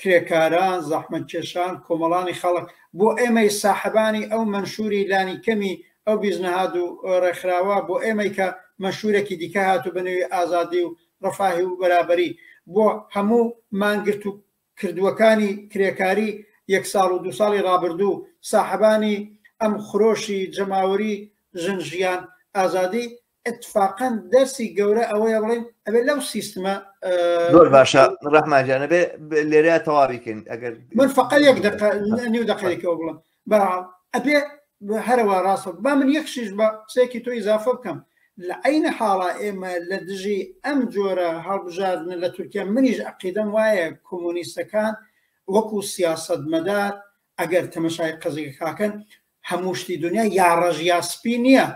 کرێکاران، زەحمەتکێشان، کۆمەڵانی خەڵک، بۆ ئێمەی ساحەبانی ئەو مەنشووری لانی کەمی ئەو بیست نەهاد و ڕێکخراوە، بۆ ئێمەی کە مەنشوورێکی دیکە هاتوو بە نێوی ئازادی و ڕەفاهی و بەرابەری، بۆ هەموو مانگرت و کردووەکانی کرێکاری یەک ساڵ و دوو ساڵی ڕابردوو، ساحەبانی ئەم خرۆشی جەماوەری ژن ژیان ئازادی اتفاقەن دەرسی گەورە ئەوەیە بڵین ئەبێ لەو سیستمە زۆر باشە ڕەحمانجانە بێ لێرە تەواویکەین ئەگەر من فقە یەک دقە نیو دقەیەکەوە بڵم با ئەبێ هەرەوە ڕاستە با من یەک شیش بە قسێکی تۆی زافە بکەم لە عینە حاڵا ئێمە لە دژی ئەم جۆرە هەڵبژاردن لە تورکیا منیش عقیدەم وایە کۆمۆنیستەکان وەکو سیاست مەدار ئەگەر تەمەشای قەزیکاکەن هەموو شتی دنیا یا ڕژیا سپی نییە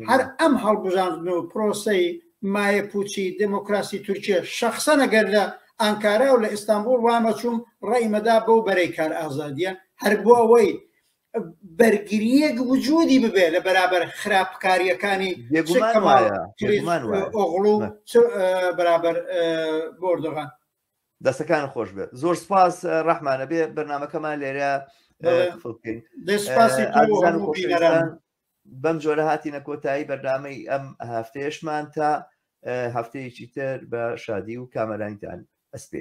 هەر ئەم هەڵبژاردن و پرۆسەی مایە پوچی دموکراسی تورکیە شخصەنە گەر لە ئانکارا و لە ئیستانبول وامەچوم ڕێمەدا بەو بەرەی کار ئازادیە هەر بۆ ئەوەی بەرگریەک وجودی ببێ لە بەرابەر خراپکاریەکانی ئۆغڵ و بەرابەر بۆردەغان دەستەکان خۆش بێت زۆر سپاس ڕەحمانە بێ بەرنمەکەمان لێرە بەم جۆرە هاتینە کۆتایی بەرنمەی ئەم هەفتەیەشمان تا هەفتەیەکی تر بە شادی و کامەرانیتان ئەسپێ